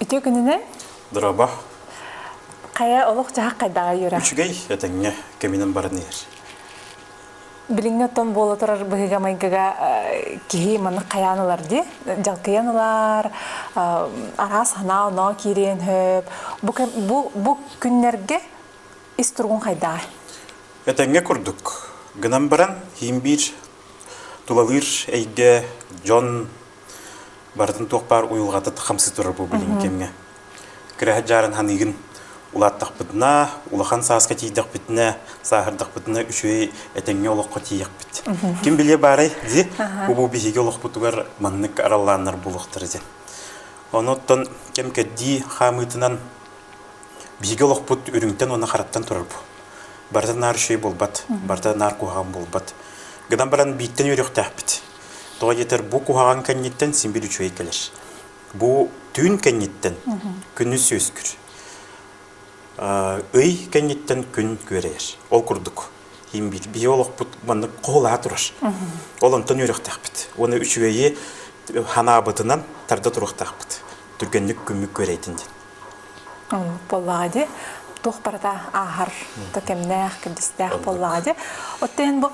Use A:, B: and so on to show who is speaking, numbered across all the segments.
A: Үтүө күнүнэн. Дыраба. Хайа олох-дьаһах хайдаҕа үөрэ? Үчүгэй этэҥҥэ кэминэн баран иһэр. Билиҥҥи оттон буола турар быһыыга-майгыга киһи маннык хайаан ылар дии. Дьалкыйан ылар, араас санаа-оноо киириэн сөп. Бу, бу, бу күннэргэ ис туругун хайдаҕай? Этэҥҥэ курдук. Гынан баран, иһин биир тулалыыр эйгэ, дьон Барытын туох баар уйулҕатыт хамсыы турар бу билигин кэмҥэ. Кыраһат дьаарын саныыгын улааттахпытына, улахан сааска тиийдэхпитинэ, сааһырдахпытына үчүгэй этэҥҥэ олоххо тиийэхпит. Ким билиэ баарай дии, бу биһиги олохпутугар маннык араллааннар буолуохтара диэн. Онуттан кэм-кэрдии хаамыытынан биһиги олохпут үрүҥтэн уонна хараттан турар бу. Барыта наар үчүгэй буолбат, барыта наар куһаҕан буолбат. Гынан баран бииртэн үөрүөхтээхпит. Тоҕо диэтэр бу куһаҕан кэнниттэн син-бир үчүгэй кэлэр. Бу түүн кэнниттэн күнүс үөскүүр. Ый кэнниттэн күн күөрэйэр. Ол курдук биһиги олохпут маннык хоһулаһа турар. Ол онтон үөрөхтөхпүт. Уонна үчүгэйи санаабытынан тарда туруохтаахпыт. Түргэнник күммүк күөрэйдин диэн. буоллаҕа дии туох барыта ааһар то кэмнээх кэрдистээх буоллаҕа дии отто эн бу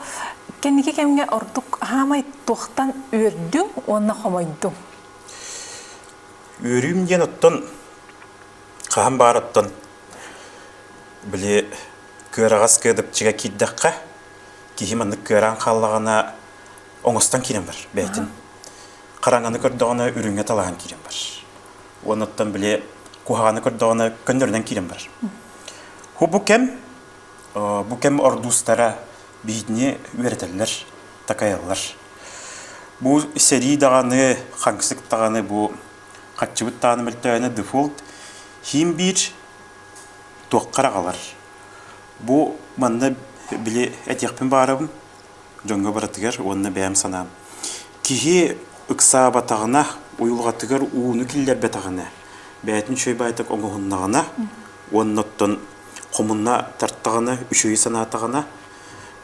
A: кэнники кэмҥэ ордук хаамай туохтан үөрдүҥ уонна хомойдуҥ үөрүүм диэн оттон хаһан баар оттон били кыараҕас кыадапчыга киирдэххэ киһи маннык кыараан хааллаҕына оҥостон киирэн бар бэйэтин хараҥаны көрдөҕүнэ үрүҥҥэ талаан киирэн бар Уонуттан били куһаҕаны көрдөҕүнэ көннөрүнэн киирэн барар. Бу кэм бу кэм ордуустара биһигини үөрэтэллэр, такайаллар. Бу сэрии даҕаны, хаҥсык даҕаны бу хаччыбыт тааны мөлтөөһүнэ дефолт хим биир туоххар аҕалар. Бу манна били этиэхпин баарабын дьоҥҥо барытыгар уонна бэйэм санаам киһи ыксаабатаҕына уйулҕатыгар ууну киллэрбэтэҕинэ бэйэтин үчүгэй баайтак оҥоһуннаҕына уонна оттон хомунна тартаҕына үчүгэй санаатаҕына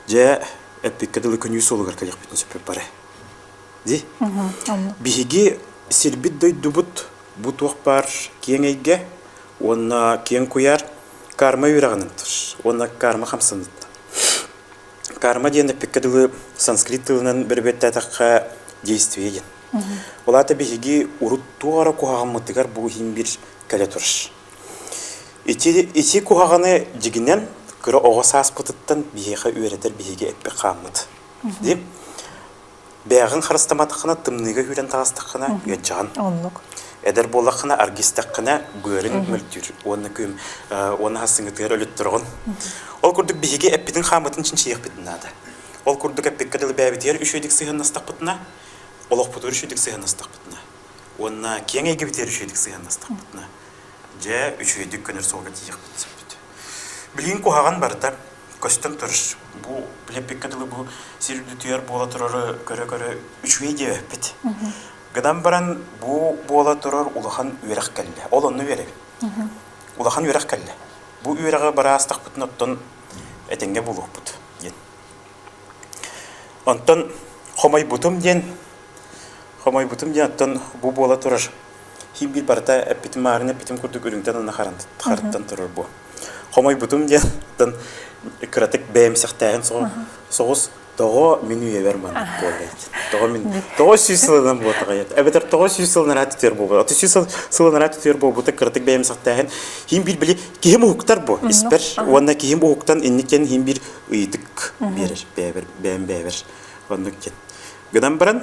A: дьэ эппиккэ дылы күнүү суолугар кэлиэхпитин сөппүп бары ди биһиги сирбит дойдубут бу туох баар киэҥ эйгэ уонна киэҥ куйаар карма үөрэҕин ынтыр уонна карма хамсаныттан Карма диэн эппиккэ дылы санскрит тылынан бэрбэттээтэххэ действие диэн. Ол аата биһиги урут туора куһаҕаммытыгар бу иһин бир кэлэ турш. Ити, ити куһаҕаны дигинен кыра оҕо сааспытыттан биһиэхэ үөрэтэр биһиги эппик хааммыт. Дим? Бэйэҕин харыстаматаххына, тымныыга үүрэн таҕыстаххына, үөдьэҕин. Оннук. Эдэр буоллаххына, аргистэххинэ, быарыҥ мөлтүүр уонна күм уонна хассыҥытыгар өлүттүрөҕүн. Ол курдук биһиги эппитин-хааммытын чинчийиэхпитин наада. Ол курдук эппиккэ дылы бэйэбитигэр үчүгэйдик сыһыаннастахпытына, олохпутугар үчүгэйдик сыһыаннастахпытына уонна киэҥ эйгэбитигэр үчүгэйдик сыһыаннастахпытына, дьэ, үчүгэйдик көнөр суолга тиийиэхпит сөппүт. Билигин куһаҕан барыта көстөн турар. Бу билеппиккэ дылы бу сир үрдүтүгэр буола турары көрө-көрө үчүгэй диэбэппит. Гынан баран бу буола турар улахан үөрэх кэллэ. Ол онно үөрэбин. Улахан үөрэх кэллэ. Бу үөрэҕи бараастахпытын оттон этэҥҥэ булуохпут диэн. Онтон хомойбутум диэн хомойбутум диэн оттон бу буола турар Киим-биир барыта эппитим маарына эппитим курдук үрүҥтэн уонна харантан турар буо. Хомойбутум диэн кыратык бэйэм сэхтээһин соҕус тоҕо мин үйэбэр маннык буоллаат тоҕо мин тоҕо сүүс сылынан буотаҕайат эбэтэр тоҕо сүүс сылынан аraa түтүөр буолбут оту сүүс сылынан аraa түтүөр буолбута кыратык бэйэм сахтааһын хин биир били киһим уһуктар бу испэр уонна киһим уһуктан инникитин хин биир ыйытык биэрэр бэйэбэр бэйэм бэйэбэр оннук диэн гынан баран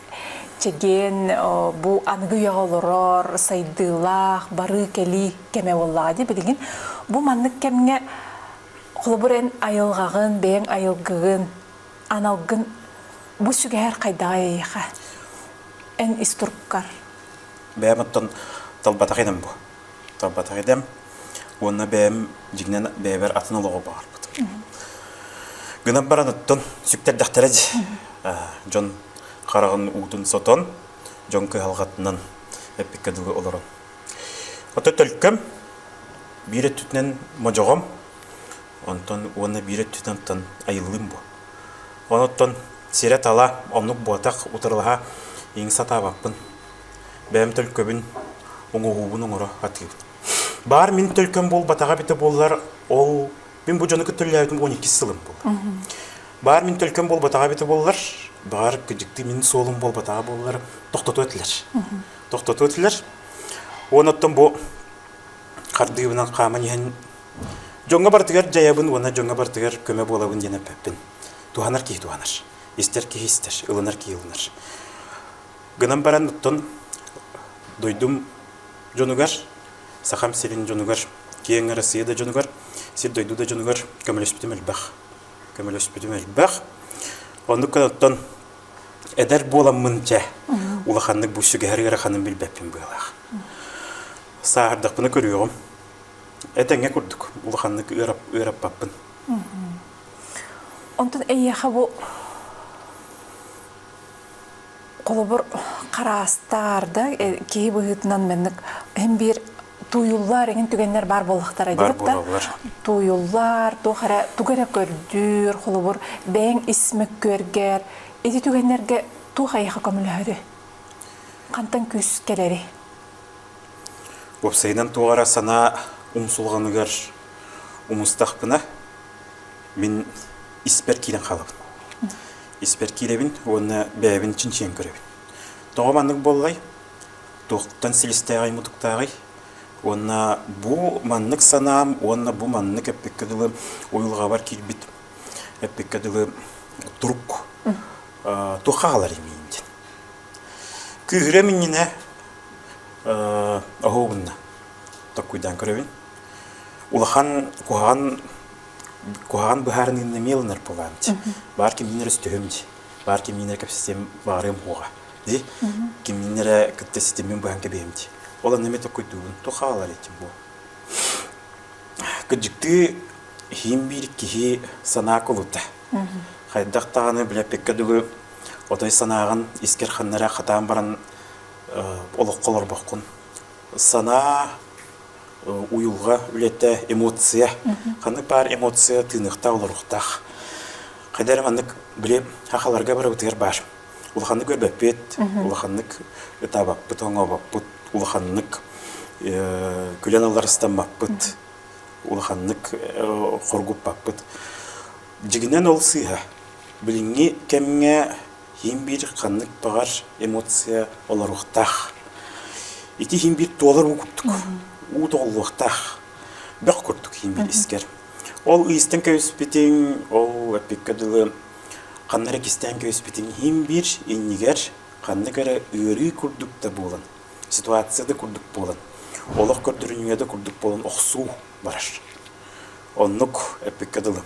A: Чэгиэн бу аныгы үйэҕэ олорор сайдыылаах барыы-кэлии кэмэ буоллаҕа дии билигин бу маннык кэмҥэ холобур эн айылҕаҕын бэйэҥ айылгыгын аналгын бу сүгэһэр хайдаҕа эйиэхэ эн ис туруккар бэйэм оттон талбатах идэм бу талбатах идэм уонна бэйэм дьиҥнэн бэйэбэр атын олоҕу баҕарбытым гынап баран оттон сүктэрдэхтэрэ дии дьон хараҕын уутун сотон, дьон кыһалҕатынан эппиккэ дылы олорон. Ото төлкөм, биир өттүтүнэн модьоҕом, онтон уонна биир өттүтүн оттон айыллыым буо. Онуттан сирэ-тала, оннук буотах утарылаһа иҥ сатаабаппын. Бэйэм төлкөбүн, уҥуоҕуубун оҥоро атыыбын. Баар мин төлкөм буолбатаҕа эбитэ буоллар, ол Мин бу дьону кытта үлэлээбитим 12 сылым буолла. Баар мин төлкөм буолбатаҕа эбитэ боллар, баар кыдьыкты мин суолум буолбатаҕа боллар тохтоту этилэр. Тохтоту этилэр. Уон оттон бу хардыыбынан хааман иһэн дьоҥҥо барытыгар дьайабын уонна дьоҥҥо барытыгар көмө буолабын диэн эппэппин. Туһанар киһи туһанар. Истэр киһи истэр, ылынар киһи ылынар. Гынан баран оттон дойдум дьонугар, Сахам сирин дьонугар, киэҥ Арассыыйа да дьонугар, сир-дойду да дьонугар көмөлөспүтүм элбэх. Көмөлөспүтүм элбэх. Оннук гынан эдэр буоламмын дьэ улаханнык бу сүгэһэр ыараханым билбэппин быалаах. Сааһардахпына көрүөҕүм. Этэҥҥэ курдук улаханнык ыарап ыараппаппын. Онтон эйиэхэ бу Холобур, хараастаарда киһи быһыытынан маннык эн биир тууйуллар эҥин түгэннэр баар буоллахтара диэбиттэр. Тууйуллар, туох эрэ тугу эрэ көрдүүр, холобур, бэйэҥ ис мөккүөргэр ити түгэннэргэ туох айыха көмөлөһөрү? Хантан күүс кэлэри? Уопсайынан туох эрэ санаа умсулҕаныгар умустахпына мин испэр киирэн хаалабын. испэр киирэбин уонна бэйэбин чинчийэн көрөбүн. Тоҕо маннык буоллай? Туохтан силистээҕий-мутуктааҕый? Уонна бу маннык санаам уонна бу маннык эппиккэ дылы уйулҕабар киирбит эппиккэ дылы турук туох хааларый миин дин күүһүрэ миннинэ оһуогунна токкуйдаан көрөбүн улахан куһаҕан куһаҕан быһаарыныыны эмиэ ылынар буолаам дии. Баар кимнэр өстөһүм дии. Баар кимнэр кэпсэтиэм, баарыам уоҕа дии. Кимнэр эрэ кытта ситимин быһан кэбиһиэм дии. Ол анна эмиэ токкойдуубун. Туох хаалар этим буо. Кыдьыктыы иһин биир киһи санаа кулута. Хайдах даҕаны билэппиккэ дылы отой санааҕын искэр ханна эрэ хатаан баран олоххо олорбоккун. Санаа уйулҕа үлэтэ, эмоция. Ханнык баар эмоция тыыныахтаах, олоруохтаах. Хайдах эрэ маннык били хахаларга барыбытыгар баар. Улаханнык көрбөппүт, улаханнык ытаабаппыт, оҥообоппут, улаханнык күлэн аларыстаммаппыт, улаханнык хоргуппаппыт. Дьиҥинэн ол сыыһа. Билиҥҥи кэмҥэ Һин-бир ханнык баҕар эмоция олоруохтаах. Ити һин-бир туоларым курдук уу тоҕуллуохтаах. Бөх курдук һин-бир искэр. Ол ыйыстан кэбиспитиҥ, ол эппиккэ дылы ханна эрэ кистээн кэбиспитиҥ һин-бир иннигэр ханнык эрэ ыарыы курдук да буолан, ситуация да курдук буолан, олох көрдөрүнүүгэ да курдук буолан охсуу барар. Оннук эппиккэ дылы.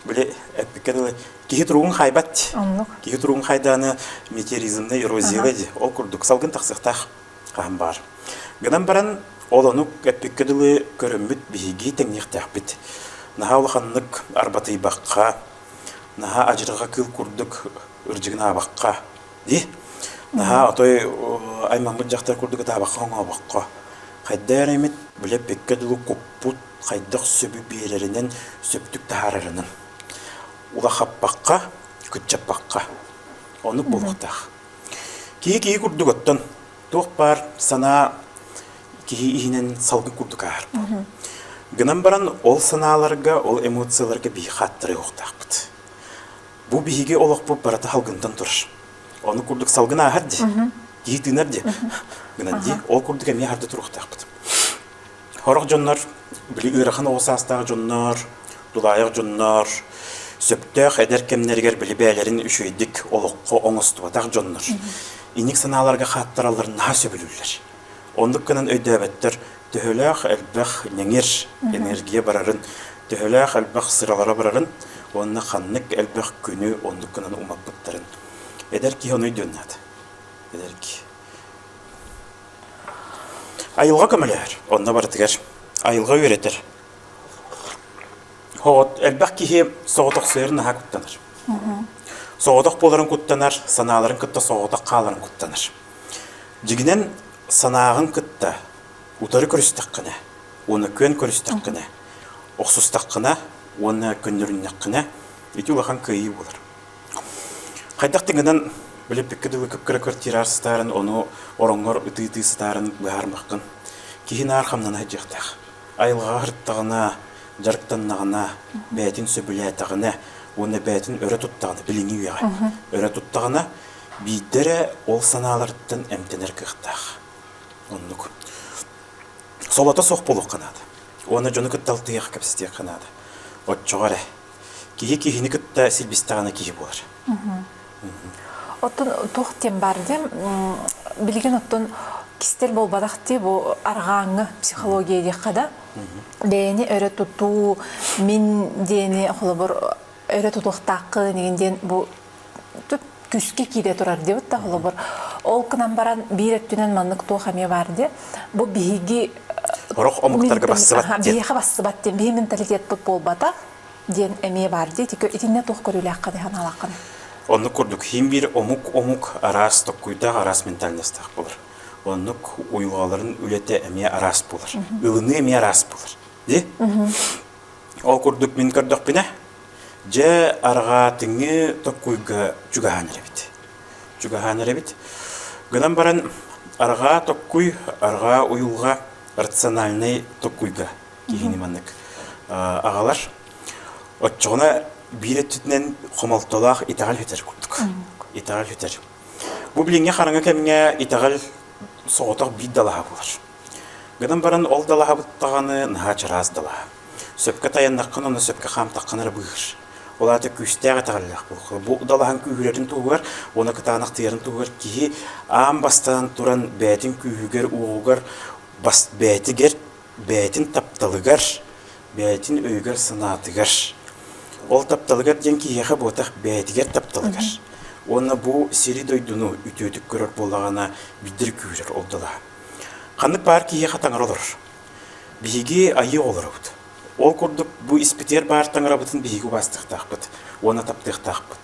A: Били эппиккэ дылы киһи туругун хайбат. Оннук. Киһи туругун хайдаана метеоризмная эрозия диye. Ол курдук салгын тахсыктаах хаһан баар. Гынан баран ол онук эппиккэ дылы көрөммүт биһиги тэҥниэхтээхпит. Наһаа улаханнык арбатыйбакка, наһаа ажырҕа кыл курдук ырдьыгынаабакка, ди. Наһаа отой аймаммыт жақтар курдук атаабакка оҥообокко. Хайдаар эмит биле пекке дылы куппут хайдах сөбү биэрэринэн сөптүк таһаарарынан улахаппакка кыччаппакка оннук буолуохтаах киһи киһи курдук оттон туох баар санаа киһи иһинэн салгын курдук ааһарбыт гынан баран ол санааларга ол эмоцияларга биһи хааттарыа уохтаахпыт бу биһиги олохпут барыта салгынтан турар ону курдук салгын ааһар дии киһи тыынар дии гынан дии ол курдук эмиэ харда туруохтаахпыт Хорох дьоннор, били ыарахан оҕо саастаах дьоннор, тулаайах дьоннор, сөптөөх эдэр кэмнэригэр били бэйэлэрин үчүгэйдик олоххо оҥостубатах дьоннор иник санааларга хааттараллар наһаа сөбүлүүллэр. Оннук гынан өйдөөбөттөр төһөлөөх элбэх ньэҥир энергия барарын, төһөлөөх элбэх сыралара барарын уонна ханнык элбэх күнү оннук гынан умаппыттарын. Эдэр киһи ону өйдүөннаат. Эдэр киһи. Айылҕа көмөлөһөр, онно барытыгар айылҕа үөрэтэр. От элбэх киһи соҕотохсуйарын наһаа куттанар. Соҕотох буоларын куттанар, санааларын кытта соҕотох хааларын куттанар. Дьигинэн санааҕын кытта утары көрүстэххинэ уонна күөн көрүстэххинэ, охсустаххына уонна көннөрүннэххинэ ити улахан кыайыы буолар. Хайдах да гынан билиппиккэ дылы кыккыра квартираар сытаарын, ону ороҥҥор ытыы-ытыы сытаарын быһаарымаххын. Киһи наар хамнана сылдьыахтаах. Айылҕаҕа сырыттаҕына, дьарыктаннаҕына, бэйэтин сөбүлээтэҕинэ уонна бэйэтин өрө туттаҕына, билиҥҥи үйэҕэ өрө туттаҕына, биирдэ эрэ ол санааларыттан эмтэнэр кыахтаах. Оннук. Солото суох буолуохха наада. Уонна дьону кытта алтыһыахха, кэпсэтиэххэ наада. Оччоҕо эрэ Киһи киһини кытта силбистэҕинэ киһи буолар. Оттон туох диэн бар диэм, билигин оттон кистэл болбадах дии бу арҕааҥҥы психология диэххэ да бэйэни өрө тутуу мин диэни холобур өрө тутуохтааххын игин диэн бу күскэ киирэ турар диэбит да холобур ол гынан баран биир өттүнэн маннык туох эмиэ баар диэ бу биһиги орох омуктарга бассыбат биһиэхэ бассыбат диэн биһи менталитетпут буолбата диэн эмиэ баар диэ итиннэ туох көрүүлээххэ санаалааххын оннук курдук хим биир омук омук араас токкуйдаах араас ментальностаах болар оннук уйулҕаларын үлэтэ эмиэ араас болар ылыныы эмиэ араас болар ди ол курдук мин көрдөхпүнэ Дьэ, арҕаа тыҥы Токкуйга чугаһаан эрэбит. Чугаһаан эрэбит. Гынан баран, арҕаа Токкуй, арҕаа уйулҕа рациональнай Токкуйга киһини маннык аҕалар. Оччоҕуна биир өттүтүнэн хомолтолоох итэҕэл сүтэр курдук. Итэҕэл сүтэр. Бу билиҥҥи хараҥа кэмҥэ итэҕэл соҕотох биир далаһа буолар. Гынан баран ол далаһабыт даҕаны наһаа чараас далаһа. Сөпкө тайаннаххына уонна сөпкө хаамтаххына эрэ быыһыр. Ол аата күүстээх итэҕэллээх буолуох. Бу далаһаҥ күүһүрэрин туһугар уонна кытаанахтыйарын туһугар киһи аан бастаан туран бэйэтин күүһүгэр, уоҕугар, бас бэйэтигэр, бэйэтин тапталыгар, бэйэтин өйүгэр-санаатыгар. Ол тапталыгар диэн киһиэхэ буотах бэйэтигэр тапталыгар. Уонна бу сири-дойдуну үтүөтүк көрөр буоллаҕына биирдэ күүһүрэр ол далаһа. Ханнык баар киһиэхэ таҥара олорор. Биһиги айыы оҕолоробут. Ол курдук бу испитигэр баар таҥарабытын биһиги убаастыахтаахпыт уонна таптыахтаахпыт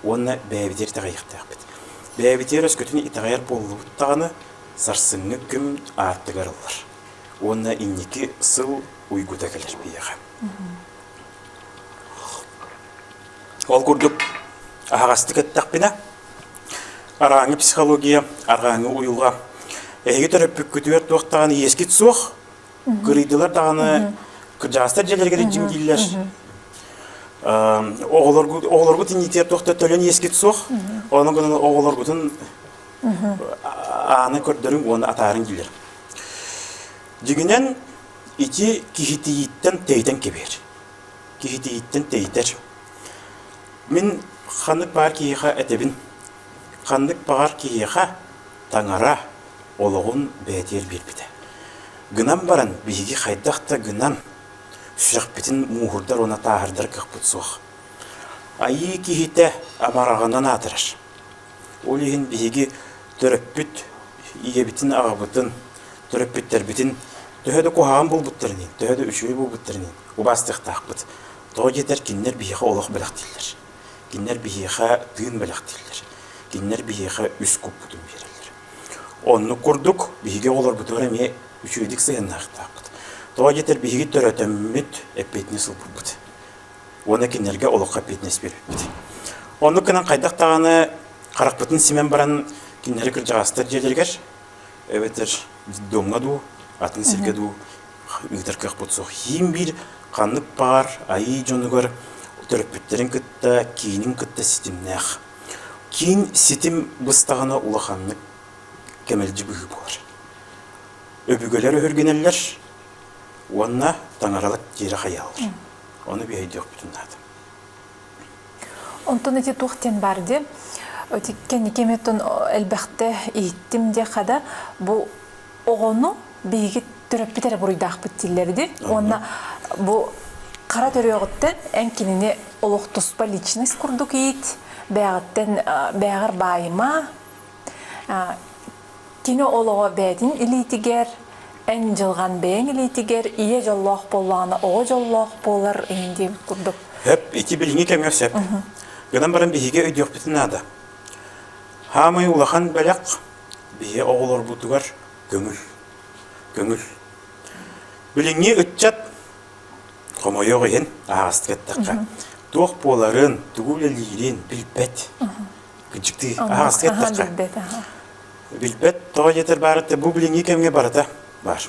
A: уонна бэйэбитигэр итэҕэйиэхтээхпит. Бэйэбитигэр өскөтүн итэҕэйэр буоллубут даҕаны, сарсыҥҥы күн аартыгар ыллар уонна инники сыл уйгута кэлэр биһиэхэ. Ол курдук аһаҕастык эттэхпинэ, Арааҥы психология, арааҥы уйуга. Эһиги төрөппүккүтүгэр туох даҕаны иэскит суох, кырыйдылар даҕаны, кырдьаастар дьиэлэригэр илдьим дииллэр. Оҕолоргут оҕолоргут иннитигэр туох да төлөн иэскит суох. Онон гынан оҕолоргутун ааны көрдөрүҥ уонна атаарыҥ дииллэр. Дигинэн ити киһитийиттэн тэйтэн кэбиэр. Киһитийиттэн тэйтэр. Мин ханнык баар киһиэхэ этэбин, ханнык баҕар киһиэхэ таҥара олоҕун бэйэтигэр биэрбитэ. Гынан баран биһиги хайдах да гынан сүрэхпитин мууһурдар уонна тааһырдар кыахпыт суох. Айыы киһитэ амараҕынан аатырар. Ол иһин биһиги төрөппүт ийэбитин, аҕабытын, төрөппүттэрбитин төһө да куһаҕан булбуттарын иһин, төһө да үчүгэй булбуттарын иһин убаастыахтаахпыт. Тоҕо диэтэр, кинилэр биһиэхэ олох бэлэх дииллэр. Кинилэр биһиэхэ тыын бэлэх дииллэр. Кинилэр биһиэхэ үс куппутун биэрэллэр. Оннук курдук биһиги оҕолорбутугар эмиэ үчүгэйдик сыһыаннаахтаахпыт. Тоҕо диэтэр, биһиги төрөтөммүт эппиэтинэс ылбыппыт. Уонна кинилэргэ олоххо эппиэтинэс биэрбиппит. Оннук гынан хайдах даҕаны харахпытын симэн баран кинилэри кырдьаҕастар дьиэлэригэр эбэтэр детдомҥа дуу, атын сиргэ дуу ыытар кыахпыт суох. Хиим биир ханнык баар айыы дьонугар төрөппүттэрин кытта киинин кытта ситимнээх. Киин ситим быстаҕына улаханнык кэмэлдьи быһыы буолар. Өбүгэлэр өһүргэнэллэр уонна таҥаралар тиэрэ хайааллар. Ону биһэйдиэхпитин наада. Онтон эти туох диэн баар диye. Өтіккен икеметтон элбэхте иһиттим диэхада, бу оҕону биһиги төрөппүт эрэ буруйдаахпыт дииллэр үди уонна бу хара төрүөҕүттэн эн кинини олохтуспа личность курдук иит бээҕиттэн бээҕэр баайыма кини олоҕо бээтин илиитигэр эн дьылҕан бэйэҥ илиитигэр ийэ дьоллоох буоллаҕына оҕо дьоллоох буолар диэн курдук өп ити билиҥҥи кэмҥэ сөп гынан баран биһиги өйдүөхпүтүн наада хаамай улахан бэлэх биһи оҕолорбутугар көҥүл. Көҥүл. Билиҥҥи ыччат хомойуох иһин аһаҕастык эттэххэ, туох буоларын, тугу үлэлиирин билбэт. Кыдьыктыы аһаҕастык эттэххэ. Билбэт тоҕо диэтэр баарыта бу билиҥҥи кэмҥэ барыта баар.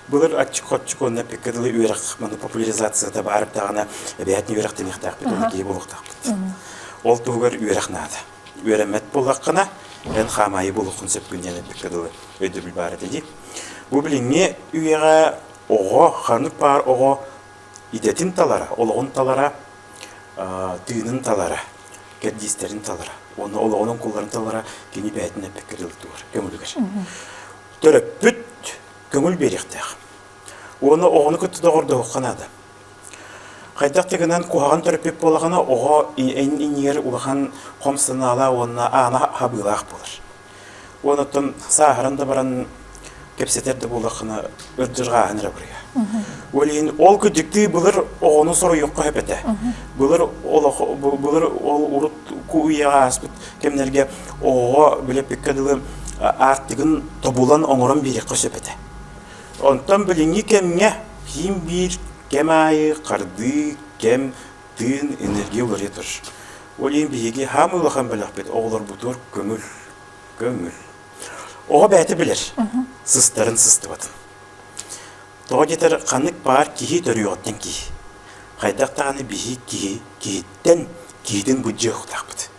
A: Былыр аччык-хоччук уонна пекка дылы үөрэх популяризацията баар даҕана эбээтин үөрэх демиэхтээх бит, ол киһи буолуохтаахпыт. Ол туһугар үөрэх наада. үөрэммэт буоллаххына, эн хаамаайы булуоххун сөпкүн диэн эппиккэ дылы өйдөбүл баар этэ дии. Бу билиҥҥи үйэҕэ оҕо, ханнык баар оҕо идэтин талара, олоҕун талара, тыынын талара, кэрдиистэрин талара, уонна олоҕунан кулларын талара кини бэйэтин эппиккэ дылы тугар, көҥүлүгэр. Төрөппүт көҥүл биэриэхтээх. Уонна оҕону кытта доҕордоһуохха наада. Хайдах да гынан куһаҕан төрөппүт буоллаҕына, оҕо иннигэр улахан хом санаалаах уонна аана хабыылаах буолар. Уон оттон сааһыран да баран кэпсэтэр да буоллаххына ырдырҕааһын эрэ буруйа. Ол иһин ол күдьүктүү былыр оҕону соруйуохха сөп этэ. Былыр олох былыр ол урут кууйаҕа ааспыт кэмнэргэ оҕоҕо билеппиккэ дылы аартыгын тобулан оҥорон биэриэххэ сөп этэ. Онтон билиҥҥи кэмҥэ киин биир кэм аайы хардыы, кэм, тыын, энергия уларыйа турар. Ол иһин биһиги хаамыы улахан бэлэхпит оҕолорбутугар көҥүл, көҥүл. Оҕо бэйэтэ билэр, сыстарын сыстыбатын. Тоҕо диэтэр, ханнык баар киһи төрүөҕүттэн киһи. Хайдах даҕаны биһиги киһи, киһиттэн киһитин былдьыахтаахпыт.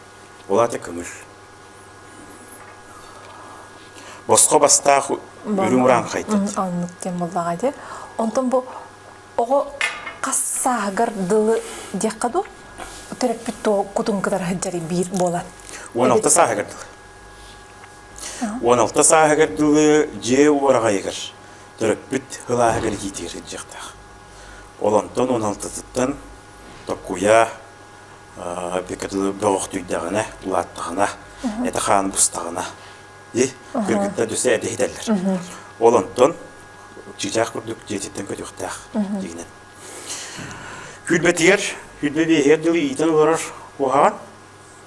A: Ол аата көҥүл. босхо бастаах үрүҥ ураан хайтыт оннук кем буллаҕа ити онтон бу оҕо хас сааһыгар дылы диэххэ дуу төрөппүт кутун кытары сылдьар биир буолан он алта сааһыгар дылы он алта сааһыгар дылы дьиэ уораҕайыгар төрөппүт ылааһыгар киитигэр сылдьыахтаах ол онтон он алтытыттан токкуйа Пекатыны бөҕөхтүйдэҕинэ, улааттаҕына, эт-хаан быстаҕына, кыргыттар дөсө эт иһитэллэр. Ол онтон чыычаах курдук дьиэтиттэн көтүөхтээх дигинэн. Күүрбэтигэр, күүрбэ биэһигэр дылы иитэн олорор куһаҕан,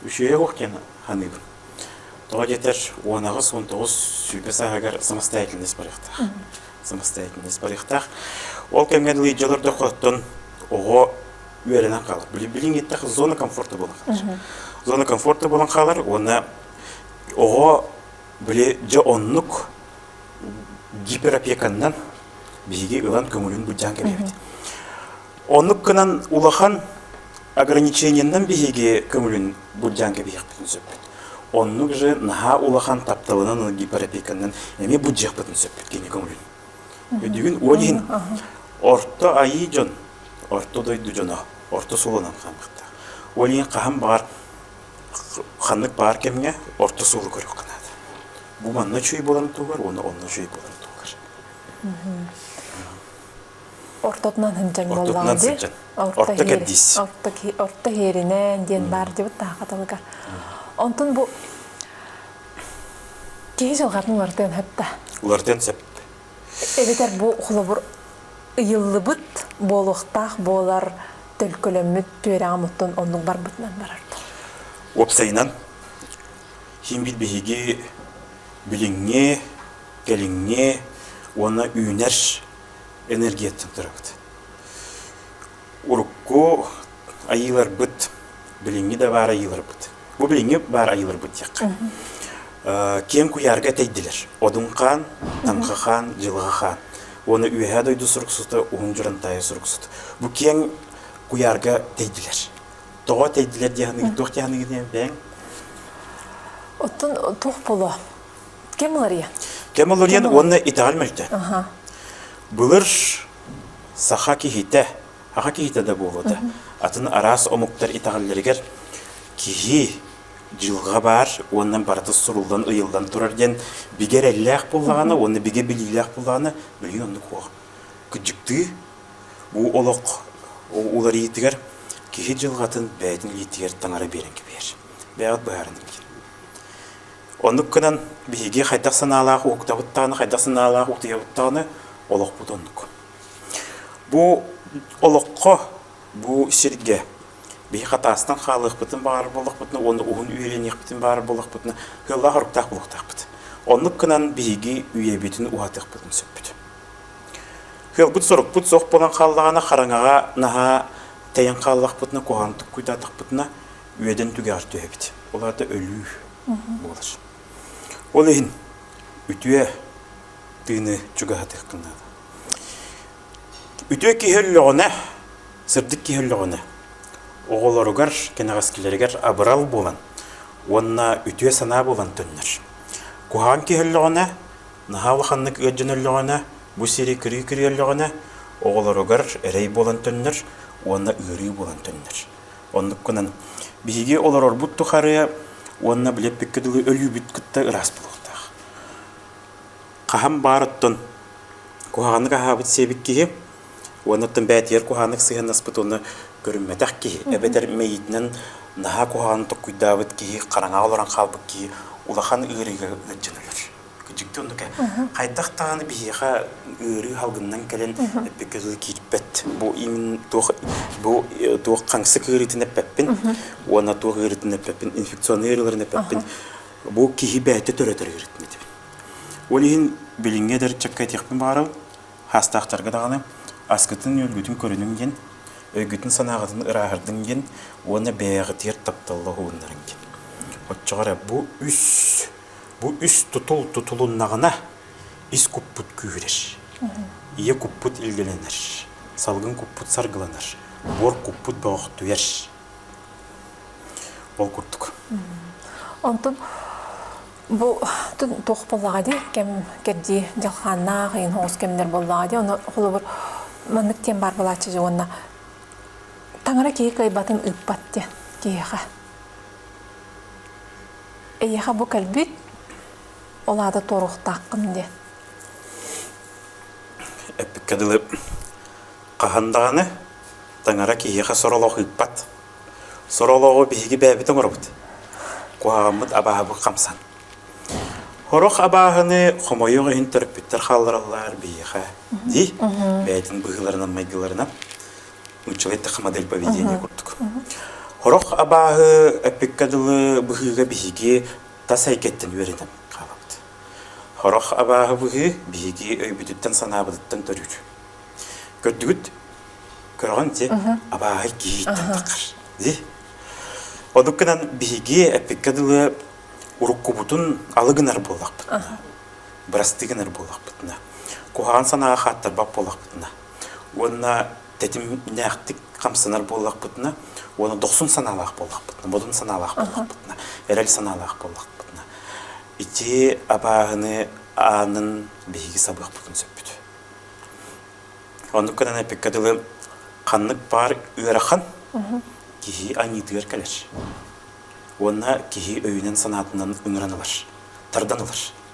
A: үсүөйэ уох диэн ханыыбын. Тоҕо диэтэр, он аҕыс, он тоҕус сүүрбэ сааһыгар самостоятельность барыахтаах. Самостоятельность барыахтаах. Ол кэмҥэ дылы дьолордоххоттон оҕо үөрэнэн хаалар. Билиҥ иттэх зона комфорта буолан хаалар. Зона комфорта буолан хаалар уонна оҕо били дьэ оннук гиперопеканнан биһиги ылан көҥүлүн быдьаан кэбиһэбит. Оннук гынан улахан ограничениянан биһиги көҥүлүн быдьаан кэбиһиэхпитин сөппүт. Оннук же наһаа улахан тапталынан гиперопеканнан эми быдьыахпытын сөппүт кини көҥүлүн. Үдүгүн уон иһин орто айыы дьон, орто дойду дьоно, орто суолунан хаамыахтаах. Ол иһин хаһан баар ханнык баар кэмҥэ орто суолу көрүөххэ наада. Бу манна үчүгэй буоларын туһугар уонна онно үчүгэй буоларын туһугар. Ортотунан сындьаҥ буоллаҕа дии. Орто кэрдиис. Орто иһэринэн диэн баар дибит таахаталыгар. Онтун бу Киһи дьылҕатын уларытыан сөппө. Уларытыан сөп. Эбэтэр бу холобур ыйыллыбыт буолуохтаах буолар төлкөлөммүт түөрэҕим оттон оннук барбытынан барардар. Уопсайынан химбит биһиги билиҥҥи, кэлиҥҥи уонна үүнэр энергияттан турабыт. урукку айыыларбыт билиҥҥи да баар айыыларбыт. Бу билиҥҥи баар айыыларбыт диэххэ. Киэҥ куйаарга этэйдилэр. Одунхаан, Таҥхахаан, Дьылҕахаан. Уонна Үөһээ дойду суруксута, Уһун Дьурантаайы суруксута. Бу киэҥ куйаарга тэйдилэр. Тоҕо тэйдилэр дии саныыгыт, туох дии саныыгыт бэйэҥ? Оттон туох було? Кем уларыйан? Кем уларыйан уонна итэҕэл мөлтө. Былыр Саха киһитэ, аҕа киһитэ да буолуо да, атын араас омуктар итэҕэллэригэр киһи дьылҕа баар уонна барыта суруллан, ыйыллан турар диэн бигэ эрэллээх буоллаҕына уонна бигэ билиилээх буоллаҕына билии оннук уох. Кыдьыктыы бу олох уларыйыытыгар киһи дьылҕатын бэйэтин илиитигэр таҥара биэрэн кэбиһэр. Бэйэҕит быһааран иҥириҥ. Оннук гынан, биһиги хайдах санаалаах уктабыттаҕына, хайдах санаалаах утуйабыттаҕына олохпут оннук. Бу олоххо, бу сиргэ биһи хатаастан хаалыахпытын баҕар буоллахпытына уонна уһун үөрэниэхпитин баҕар буоллахпытына кыаллаах оруктаах буолуохтаахпыт. Оннук гынан биһиги үйэбитин уһатыахпытын сөппүт. Кыалбыт-сорукпут суох буолан хааллаҕына хараҥаҕа наһаа тэйэн хааллахпытына, куһаҕантык куйдаатахпытына үөдэн түгэҕэр түһэбит. Ол аата өлүү буолар. Ол иһин үтүө тыыны чугаһатыаххын наада. Үтүө киһи өллөҕүнэ, сырдык киһи өллөҕүнэ, оҕолоругар, кэнэҕэскилэригэр абырал буолан уонна үтүө санаа буолан төннөр. Куһаҕан киһи өллөҕүнэ, наһаа улаханнык ыалдьан өллөҕүнэ, бу сири кырыы-кырыы өллөҕүнэ, оҕолоругар эрэй буолан төннөр уонна ыарыы буолан төннөр. Оннукунан биһиги олорорбут тухары уонна билеппиккэ дылы өлүүбүт кытта ыраас буолуохтаах. Хаһан баарыттан куһаҕаннык аһаабыт сиэбит киһи уоннаттан бээтигэр куһааннык сыһыаннаспыт уонна көрүммэтэх киһи эбэтэр мэйиитинэн наһаа куһаҕан толкуйдаабыт киһи хараҥаҕа олорон хаалбыт киһи улахан ыарыыга ыалдьан өлөр. Дьикти оннук хайдах даҕаны биһиэхэ ыарыы халгыннан кэлэн эппиккэ дылы киирбэт. Бу имин туох бу э, туох хаҥсык ыарыытын эппэппин уонна туох ыарыытын эппэппин инфекционный ыарыыларын эппэппин бу киһи бэйэтэ төрөтөр ыарыытын Ол иһин билиҥҥи эдэр ыччакка этиэхпин баҕарал хаастаахтарга даҕаны аскытын үөлгүтүн көрүнүҥ диэн өйгүтүн санааҕытын ырааһырдыҥ диэн уонна бэйэҕитигэр тапталла уһууннарыҥ диэн оччоҕо эрэ бу үс Бу үс тутул тутулуннаҕына ис куппут күүһүрэр. Ийэ куппут илгэлэнэр. Салгын куппут саргыланар. Буор куппут бөҕөхтүер. Ол курдук. Онтон бу туох буоллаҕа дии кэм кэрдии дьалхааннаах иин хоҕус кэмнэр буоллаҕа дии ону холобур маннык диэн баар буолааччы дьэ уонна таҥара киһи кыайбатын ыыппат диэн киһиэхэ Эйиэхэ бу кэлбит, ол аата туоруохтааххын диэн. Эппиккэ дылы хаһан даҕаны таҥара киһиэхэ соролоох ыыппат. Соролоҕу биһиги бэйэбит оҥоробут. Куһаҕаммыт абааһыбыт хамсан. Хорох абааһыны хомойуох иһин төрөппүттэр хааллараллар биһиэхэ дии бэйэтин быһыыларынан майгыларынан нууччалай таха модель поведения курдук. Хорох абааһы эппиккэ дылы быһыыга биһиги тас эйгэттэн үөрэтэн хаалабыт. Хорох абааһы быһыы биһиги өйбүтүттэн санаабытыттан төрүүр. Көрдүгүт? Көргөн ди абааһы киһиттэн такар. Ди. Одукканан биһиги эппиккэ дылы уруккубутун алыгынар буоллахпытына, бырастыгынар буоллахпытына, куһаан санаға хаттарбақ болақпытына, уонна тэтимнээхтик хамсанар буоллахпытына уонна дохсун санаалаах буоллахпытына модун санаалаах буоллахпытына эрэл санаалаах буоллахпытына ити абааһыны аанын биһиги сабыахпытын сөппүт оннук гынан эпиккэ дылы ханнык баар ыарахан киһи аньыытыгар кэлэр уонна киһи өйүнэн санаатынан ыҥыран ылар тардан ылар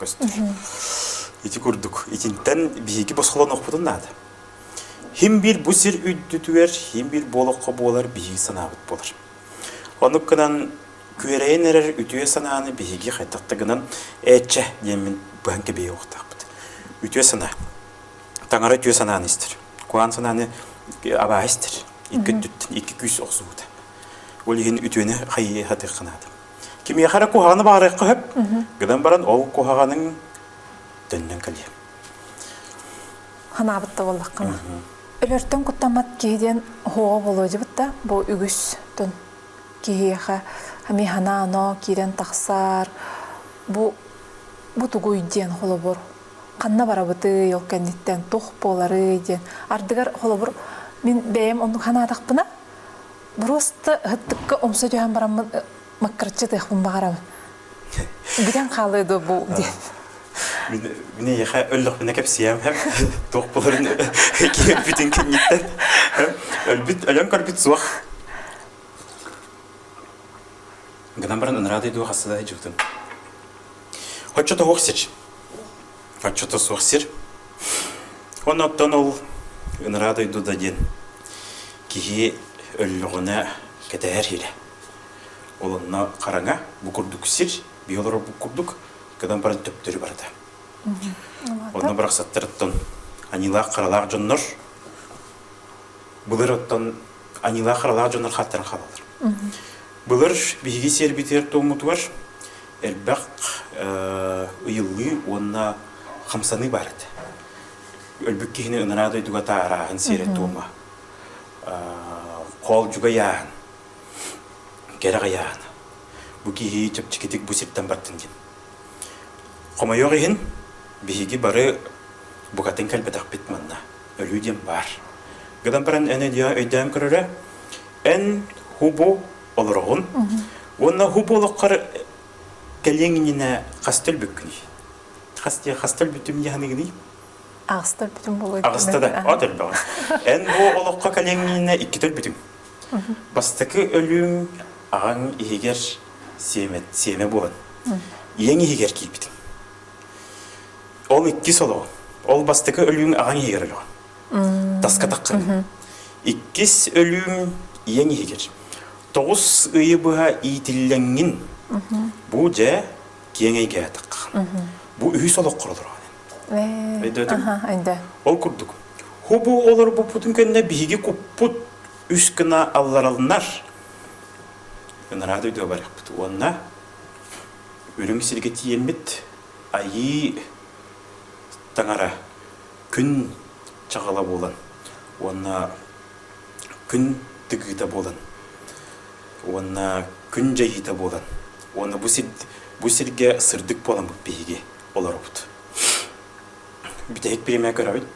A: көстөр. Ити курдук, итинтэн биһиги босхолонохпутун наада. Хим биир бу сир үрдүтүгэр хим биир буолахха буолар биһиги санаабыт болар. Онук гынан күөрэйэн эрэр үтүө санааны биһиги хайтакта гынан ээтчэ диэммин быһан кэбиэ уохтаахпыт. Үтүө санаа. Таңара үтүө санааны истэр. Куан санааны абаа истэр. Икки өттүттэн икки күүс охсубута. Ол иһин үтүөнү хайыы хатыахханаата. Кимиэхэ эрэ куһаҕаны баарыахха сөп. Гынан баран ол куһаҕаның төннөн кэлиэ. Ханаабыт да буоллаххына. Өлөртөн куттаммат киһи диэн оһоҕо болуодьубут да бу үгүстун киһиэхэ эмиэ ханаано киирэн тахсаар бу бу тугуй диэн холобур ханна барабытый ол кэнниттэн туох буоларый диэн ардыгар холобур мин бэйэм оннук санаатахпына Буруоста ыһыттыкка умса түһэн бараммын маккараччы тыахпын баҕарабын. Бүтэн хаалыы да бу диэн. Мин эйиэхэ өллөхпүнэ кэпсиэм һэм туох буларын киирбитин кэнниттэн өлбүт өлөн көрбүт суох гынан баран ынараа дойду хасса да жылытын хоччо тоһуох сич Отчета суох сир. Оннуттан ол ыныраа дойду да диэн киһи өллөҕүнэ кэтэһэр илэ. Ол онно хараҥа, бу курдук сир, би олорор бу курдук, кыдан баран төптөрү барата. Онно барахсаттарыттан анилаах-харалаах дьоннор, былыр оттон анилаах-харалаах дьоннор хаттарын халалар. Былыр биһиги сиэрбитигэр-туоммутугар элбэх ыйыллыы уонна хамсаныы баар этэ. Өлбүт киһини ынараа дойдуга таарааһын сиэрэ-туома, хоолдьугай ааһын, кэрэх айааһын. Бу киһи чэпчэкитик бу сиртэн бардын диэн. Хомойуох иһин, биһиги бары букатын кэлбэтэхпит манна. Өлүү диэн баар. Гынан баран эн өйдөөн көрөрө, Эн хубу олороҕун уонна хубу олоххор кэлиэҥ иннинэ хастар бүккүний? Хастыа хастар бүтүм яханыгыный? Ағыстар бүтүм болой. Ағыста да, от элбэҕэ. Эн бу олоххо кэлиэҥҥинэ иккитэр бүтүм. Бастакы өлүүң аҕаң иһигэр сиэмэ, сиэмэ буолан. Иэң иһигэр киирбитим. Ол иккис олоҕу. Ол бастакы өлүүң аҕаҥ иһигэр өлөҕүн. Таскатаххын. Иккис өлүүм ийэҥ иһигэр. Тоҕус ыйы быһа иитиллэҥҥин. Бу дьэ киэҥ эйгээтэххэ. Бу үһүс олох кородорааnin. Өйдөөтүм? Өйдөө. Ол курдук, хубу олорбуппутун кэннэ биһиги куппут үс гына алларалынар. Ынараат өйдөө барыахпыт уонна үрүҥ сиргэ тиийэммит айыы таҥара күн чаҕыла буолан уонна күн тыгыыта буолан уонна күн дьайыыта буолан уонна бу сир бу сиргэ сырдык буоламмыт биһиги олоробут. Бүтэһик премия көрөбүт.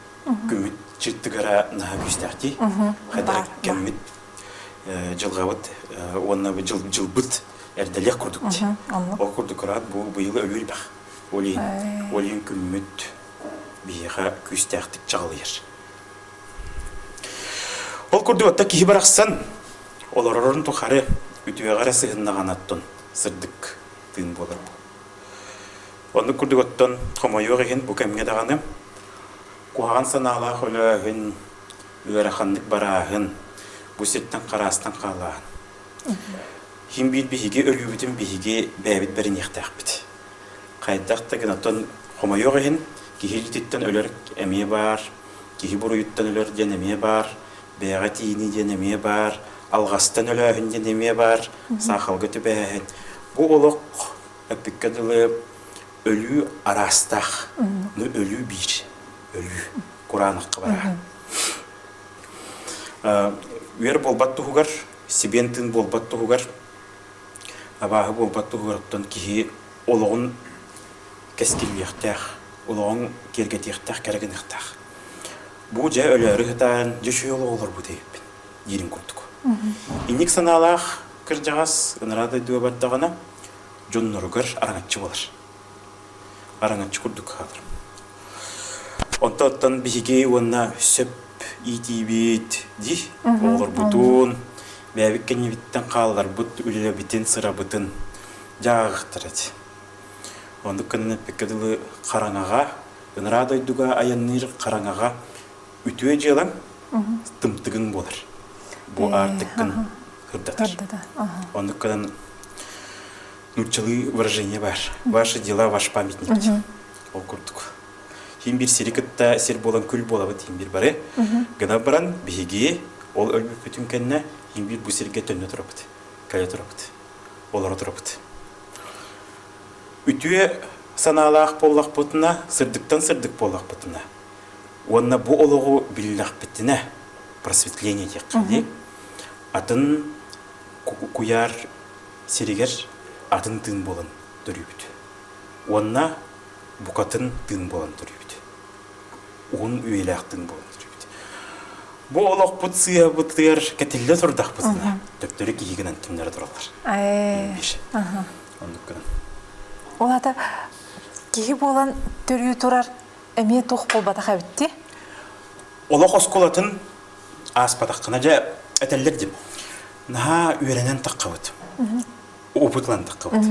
A: Күммүт чыттыгара наһаа күүстээхтии. Хайдах кэммит э, дьылҕабыт э, уонна дьыл дьылбыт эрдэлиэх курдук. Ол курдук кыраат бу быйыл өвүүр бах. Олиин, олиин күммүт Биһиэхэ күүстээхтик чаҕылыйар. Ол курдук отто киһи барахсан олорорун тухары үтүөҕэ эрэ сыһыннаҕын оттон сырдык тыын буолар бу. Оннук курдук оттон хомойуох иһин бу кэмҥэ даҕаны куһаҕан санаалаах өлөөһүн, ыараханнык барааһын, бу сиртэн хараастан хаалааһын. Хин биир биһиги өлүүбүтүн биһиги бэйэбит бэриниэхтээхпит. Хайдах да гынаттан хомойуох иһин, киһи дьититтэн өлөр эмиэ баар, киһи буруйуттан өлөр диэн эмиэ баар, бэйэҕэ тиийинии диэн эмиэ баар, алҕастан өлөөһүн диэн эмиэ баар, саахалга түбэһэһин. Бу олох эппиккэ дылы өлүү араастаах. Ну өлүү биир. Өлүү кураанахха бараа. Үөр буолбат туһугар, сибиэн тыын буолбат туһугар Абааһы буолбат туһугар киһи олоҕун кэскиллиэхтээх, олоҕун киэргэтиэхтээх, кэрэ гыныахтаах. Бу дьэ өлөөрү сытаан, дьэ үчүгэй олоҕу олорбут эбиппин диирин курдук. Инник санаалаах кырдьаҕас, ынараа дойдуга бардаҕына, дьонноругар араҥаччы буолар. араҥаччы курдук хааларым. Онто оттон биһиги уонна сөп иитиибит дии оҕолорбутун бэйэбит кэннибиттэн хаалларбыт үлэлэбитин сырабытын дьаахтар эти. Оннук кэннэ эппекке дылы хараҥаҕа ынараа дойдуга айанныыр хараҥаҕа үтүө дьыалаң тымтыгыҥ буолар. Бу аартыккын хырдатар. Оннук кынан нууччалыы выражение бар ваши дела ваш памятник ол курдук тиин бир сири кытта сир буолан күл буолабыт тиин бир бары гына баран биһиги ол өлбүппүтүн кэннэ тиин бир бу сирге төннө турабыт кэлэ турабыт олоро турабыт үтүө санаалаах буоллахпытына сырдыктан сырдык буоллахпытына уонна бу олоҕу биллэхпитинэ просветление диэххэ атын куяр сиригэр атын тыын буолан төрүүбүт. Уонна букатын тыын буолан төрүүбүт. Уһун үйэлээх тыын буолан төрүүбүт. Бу олохпут сыйабытыгар кэтиллэ турдахпытына, төптөрү киһи гынан түннэрэ тураллар. Оннук гынан. Ол ата киһи буолан төрүү турар эмиэ туох буолбатах эбитти? Олох оскулатын ааспатаххына дьэ этэллэр дим. наһаа үөрэнэн таххабыт опытлан таххабыт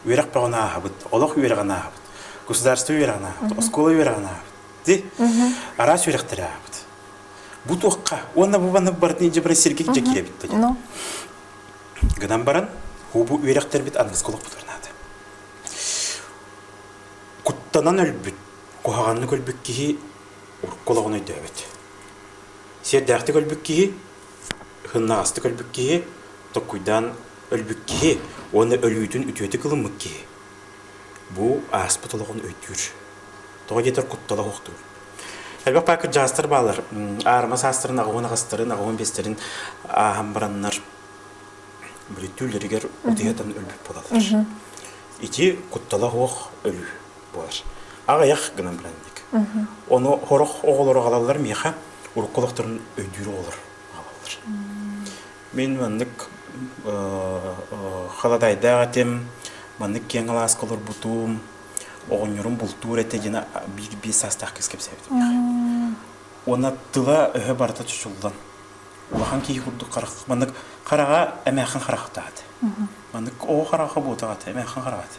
A: үөрэх бөҕүн ааһабыт олох үөрэҕин ааһабыт государство үөрэҕин ааһабыт оскуола үөрэҕин ааһабыт ди араас үөрэхтэри ааһабыт бу туохха уонна бу маннык барытын илдьэ баран сиргик дьэ киирэбит да гынан баран бу үөрэхтэрбит аныгыскы олох бутарнаата куттанан өлбүт куһаҕаннык өлбүт киһи урукку олоҕун өйдөөбөт сиэрдээхтик өлбүт киһи Һыннаҕастык өлбүт киһи, токкуйдаан өлбүт киһи уонна өлүүтүн үтүөтүк ылыммыт киһи. Бу ааспыт олоҕун өйдүүр. Тоҕо диэтэр куттала суохтуур. Элбэх паа кырдьаастар баалар. Аарыма саастарын аҕабын аҕастарын, аҕабын биэстэрин ааһан бараннар бүлүттүүллэригэр утуйатан өлбүт буолаллар. Ити куттала суох өлүү. буолар. Аҕыйах гынан билэн дик. Ону хорох оҕолору аҕалаллар миэхэ урукку олохторун өйдүүр оҕолор аҕалаллар. Мен маннык халадайдаах этим, маннык киэҥ алааска олорбутум, оҕонньорум бултуур этэ дьино биир-биир саастаах кис кэпсээбитим. Уонна тыла өһө барыта чочуллан улахан киһи курдук харах маннык хараҕа эмээххин харахтаат. Маннык оҕо хараҕа буотаҕат эмээххин хараҕат.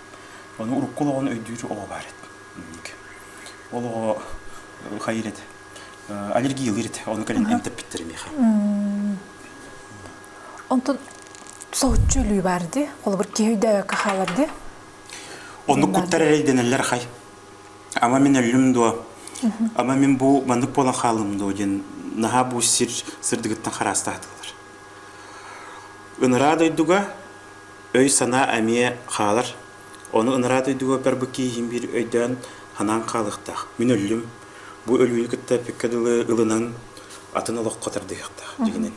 A: Ону урукку олоҕун өйдүүр оҕо баар эт. Ол оҕо хайыр эт аллергиялыыр эт ону кэлин эмтэппиттэр миэхэ. Онтон соһуччу өлүү баар дии. Холобур киһи өйдөөбөккө хаалар дии. Оннук куттар эрэйдэнэллэр хай. Ама мин өллүм дуо? Ама мин бу маннык буолан хааллым дуо диэн наһаа бу сир сырдыгыттан хараастаатылар. Ыныраа дойдуга өй-санаа эмиэ хаалар. Ону ыныраа дойдуга барбы кииһин биир өйдөөн санаан хаалыахтаах. Мин өллүм. Бу өлүүнү кытта эппиккэ дылы ылынан атын олоххо тардыһыахтаах дьигинэн.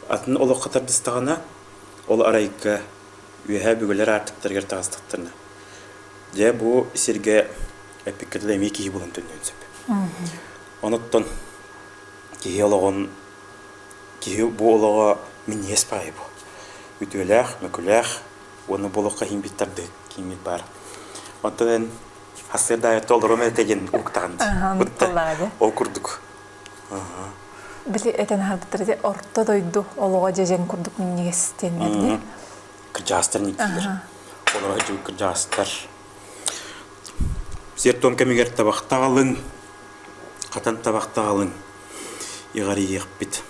A: Атын олоххо тардыстаҕына ол арайга үөһээ бүгэлэр аартыктарыгар таҕыстахтарына дьэ бу сиргэ эппиккэ эмиэ киһи булан төннүөн сөп. Онуттан киһи олоҕун киһи бу олоҕо минньиэс баайы бу. Үтүөлээх, мөкүлээх уонна бу олоххо химбит тардыыт кииҥмит баар. Оттон эн хасыар даайытта олорум этэ диэн уктаҕын. Ол курдук Били этэн аһарбыттар орто дойду олоҕо дьэдьэн курдук минньигэс диэн бэрдин. Кырдьаастар ниитиилэр. Олорор кырдьаастар сертом кэмигэр табахтаҕалыҥ, хатан табахтаҕалыҥ иҕарийиэхпит.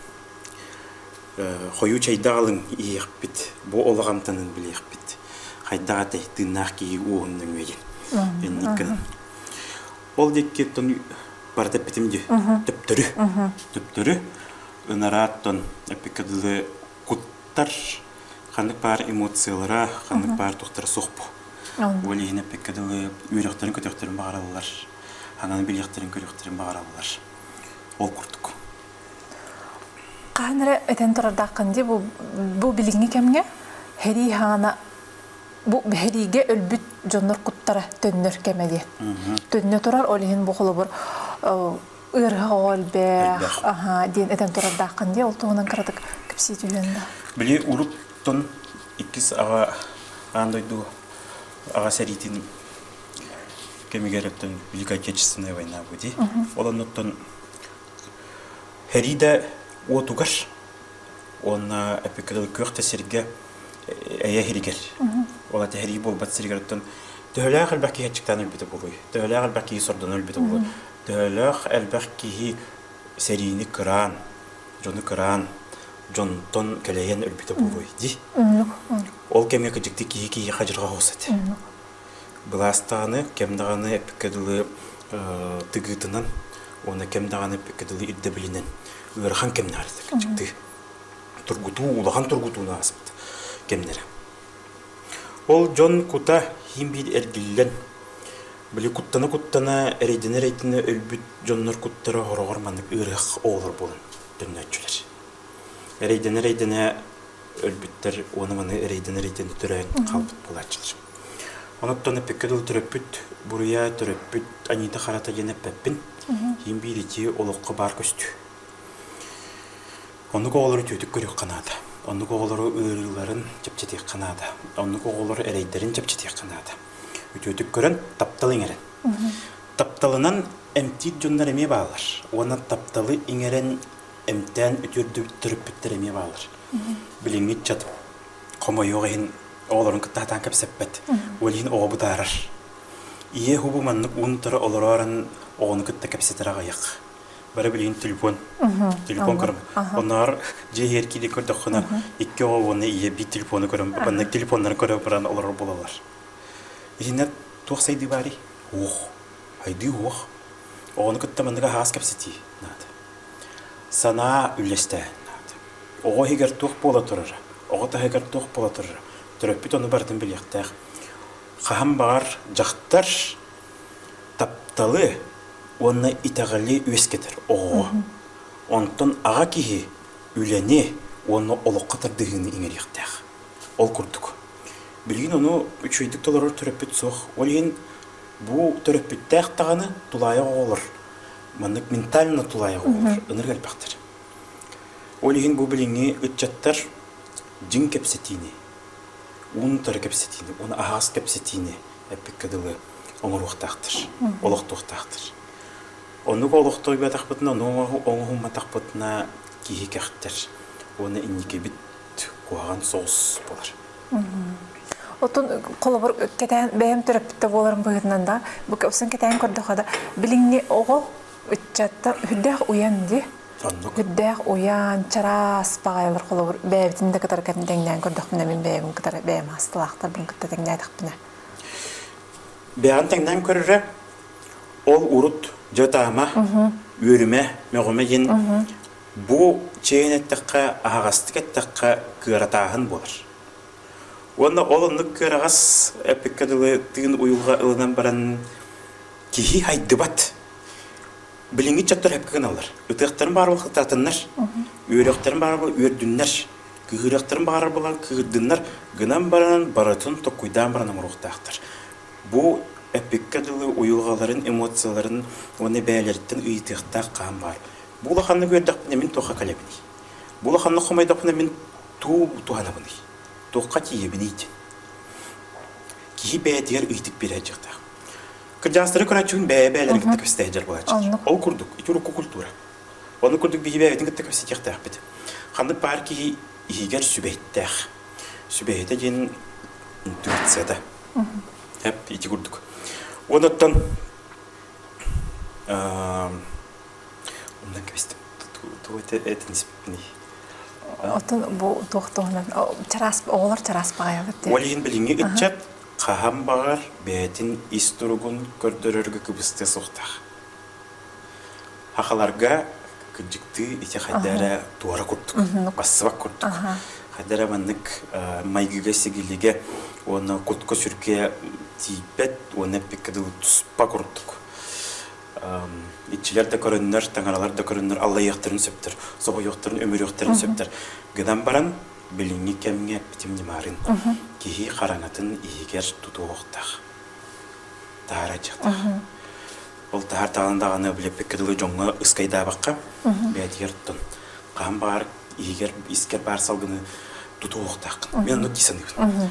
A: Хойуу чайдаҕалыҥ иһиэхпит. Бу олоҕамтанын билиэхпит. Хайдах атай тыыннаах киһи уоһун нөҥүөйүн. Инниккин. Ол диэки тон барыта эппитим дии. Төптөрү. Төптөрү. Ынараат тон эппикке дылы куттар ханнык баар эмоциялара, ханнык баар тухтара суох бу. Ол иһин эппикке дылы үөрөхтөрүн көтөхтөрүн баҕараллар. Анан билиэхтэрин көрүөхтэрин баҕараллар. Ол курдук. Хаһан эрэ этэн турардааххын дии бу билиҥҥи кэмҥэ, һэрии хаана бу биһириигэ өлбүт дьоннор куттара төннөр кэмэ диэн. Төннө турар, ол иһин бу холобур ыарыһах оҕо элбэх, аха диэн этэн турардааххын диye ол туһунан кыратык кэпсии түһүөн да. Били уруттун иккис аҕа аан дойду аҕа сэриитин кэмигэр өттөн Великая Отечественная война быди. Ол оннуттан Хэрида отугар Уонна эпикрил күөх да сиргэ эйэ иһигэр, ол эти иһэрии буолбат сиригэртэн төһөлөөх элбэх киһи аччыктаан өлбүтэ буолуй, төһөлөөх элбэх киһи сордоно өлбүтэ буолуй, төһөлөөх элбэх киһи сэриини кыраан, дьону кыраан, дьонтон кэлэйэн өлбүтэ буолуй дии. Ол кэмҥэ кырдьык киһи киһиэхэ дьылҕа оһус этэ. Былаас даҕаны, кэм даҕаны эппиккэ дылы тыгыытынан уонна кэм даҕаны эппиккэ дылы ирдэбилинэн ыарахан кэмнээх этэ кырдьыктыы. Тургутуу, улахан тургутууну ааспыт кэмнэрэ. Ол дьон кута хим биир эргиллэн, били куттана-куттана, эрэйдэнэ-эрэйдэнэ өлбүт дьоннор куттара хороҕор маннык ыарыах оҕолор буолан төннөөччүлэр. эрэйдэнэ-эрэйдэнэ өлбүттэр уону маны эрэйдэнэ-эрэйдэнэ төрөөн хаалбыт буолааччы. Онуттан эппекке дылы төрөппүт буруйа, төрөппүт Анита Харата диэн эппэппин. Киин биир ити олоххо баар көстүү. Оннук оҕолору түөтүк көрүөххэ наада. Оннук оҕолору ыарыыларын чэпчэтиэххэ наада. Оннук оҕолору эрэйдэрин чэпчэтиэххэ наада. Үтүөтүк көрөн, тапталы иҥэрэн. Тапталынан эмтиир дьоннор эмиэ бааллар. Уонна тапталы иҥэрэн эмтээн үтүөрдүк төрөппүттэр эмиэ баалар. Билиҥҥит чат хомойуох иһин оҕолорун кытта хатаан кэпсэппэт. Ол иһин оҕо бутаарар. Ийэ уһубу маннык уунтара олороорон оҕону кытта кэпсэтэр аҕыйах. Бары билигин телефон. Телефон көрөм. Оноор дьиэ иһигэр киирии көрдөххүнэ икки оҕо уонна ийэ биир телефону көрөн маннык телефоннары көрө баран олорор буолалар. Итиннэр туох сайдыы баарый? Уох. Хайдыы уох. Оҕону кытта маннык аһаҕас кэпсэтии наада. Санаа үллэстээһин наада. Оҕо иһигэр туох буола турара, оҕо таһыгар туох буола турара, төрөппүт ону барытын билиэхтээх. Хаһан баҕар дьахтар тапталы уонна итэҕэли үөскэтэр оҕоҕо. Онтон аҕа киһи үлэни уонна олоххо тардыһыыны иҥэриэхтээх. Ол курдук. Билигин ону үчүгэйдик толорор төрөппүт суох. Ол иһин бу төрөппүттээх даҕаны, тулаайах оҕолор маннык ментально тулаайах оҕолор ынырык элбэхтэр. Ол иһин бу билиҥҥи ыччаттар дьиҥ кэпсэтиини, уунутары кэпсэтиини, уну аһаҕас кэпсэтиини эппиккэ дылы оҥоруохтаахтар, олохтуохтаахтар. Оннук олохтойбатахпытына, ону оҥоһумматахпытына киһи кэхтэр уонна инникибит куһаҕан соҕус болар. Отон холобур кэтээн бэйэм төрөппүттэ буоларым быһыытынан да бу кэпсэн кэтээн көрдөхө да билиҥҥи оҕо ыччаттан үрдээх уйан ди үрдээх уйаан чараас баҕайылар холобур бэйэбитин да кытары кэтин тэҥнээн көрдөхпүнэ мин бэйэбин кытары бэйэм аастылаахтарбын кытта тэҥнээтэхпинэ бэйэҕин тэҥнээн көрөрө ол урут дьэ таама үөрүмэ мөҕүмэ диэн Бу чэйин эттэххэ, аһаҕастык эттэххэ, кыаратааһын буолар. Уонна ол оннук кыараҕас эппиккэ дылы тыын уйулҕа ылынан баран киһи айдыбат. Билиҥҥи дьоттор сөпкө гыналлар. Ытыахтарын баҕарар буолан ытатыннар, үөрүөхтэрин баҕарар буолан үөрдүннэр, кыыһырыахтарын баҕарар буолан кыыһырдыннар гынан баран барытын толкуйдаан баран оҥоруохтаахтар. Бу эппиккэ дылы уйулҕаларын, эмоцияларын уонна бэйэлэриттэн ыйытыахтаах хаан баар. Бу улаханнык үөрдэхпинэ мин туохха кэлэбиний? Бу улаханнык хомойдохпуна мин туу туһанабыный? Туохха тиийэбиний? Киһи бэйэтигэр ыйытык биэрэр дьахтаах. Кырдьаастары көрөөччүгүн бэйэ-бэйэлэрин кытта кэпсэтэ дьар буолааччы. Ол курдук, ити урукку культура. Ону курдук биһи бэйэбитин кытта кэпсэтиэхтээхпит. Ханнык баар киһи иһигэр сүбэйдээх. Сүбэйитэ диэн интуицията. Ити курдук. Онуттан Онно кэбистим. Тугу этиниспипиний? Оттон бу туох туһунан чараас оҕолор чараас баҕайылар диэн. Ол иһин билиҥҥи ыччат хаһан баҕар бэйэтин ис туругун көрдөрөргө кыбыстыа суохтаах. Хахаларга кырдьыктыы ити хайда эрэ туора курдук, бассыбат курдук. Хайда эрэ маннык майгыга сигилигэ уонна кутка сүргэ тиийбэт уонна эппиккэ дылы туспа курдук. иччилэр да көрөннөр, таҥаралар да көрөннөр аллайыахтарын сөптөр, соһуйуохтарын, өмүрүөхтэрин сөптөр. Гынан баран, билиҥҥи кэмҥэ битим ньымарын киһи хараҥатын иһигэр тутуохтах. Таара дьахтар. Ол таһар таалан даҕаны билеппекке дылы дьоҥҥо ыскайдаабакка, бээтигэр тун. Хаан баар иһигэр искэр баар салгыны тутуохтааххын. Мен ону ки саныыбын.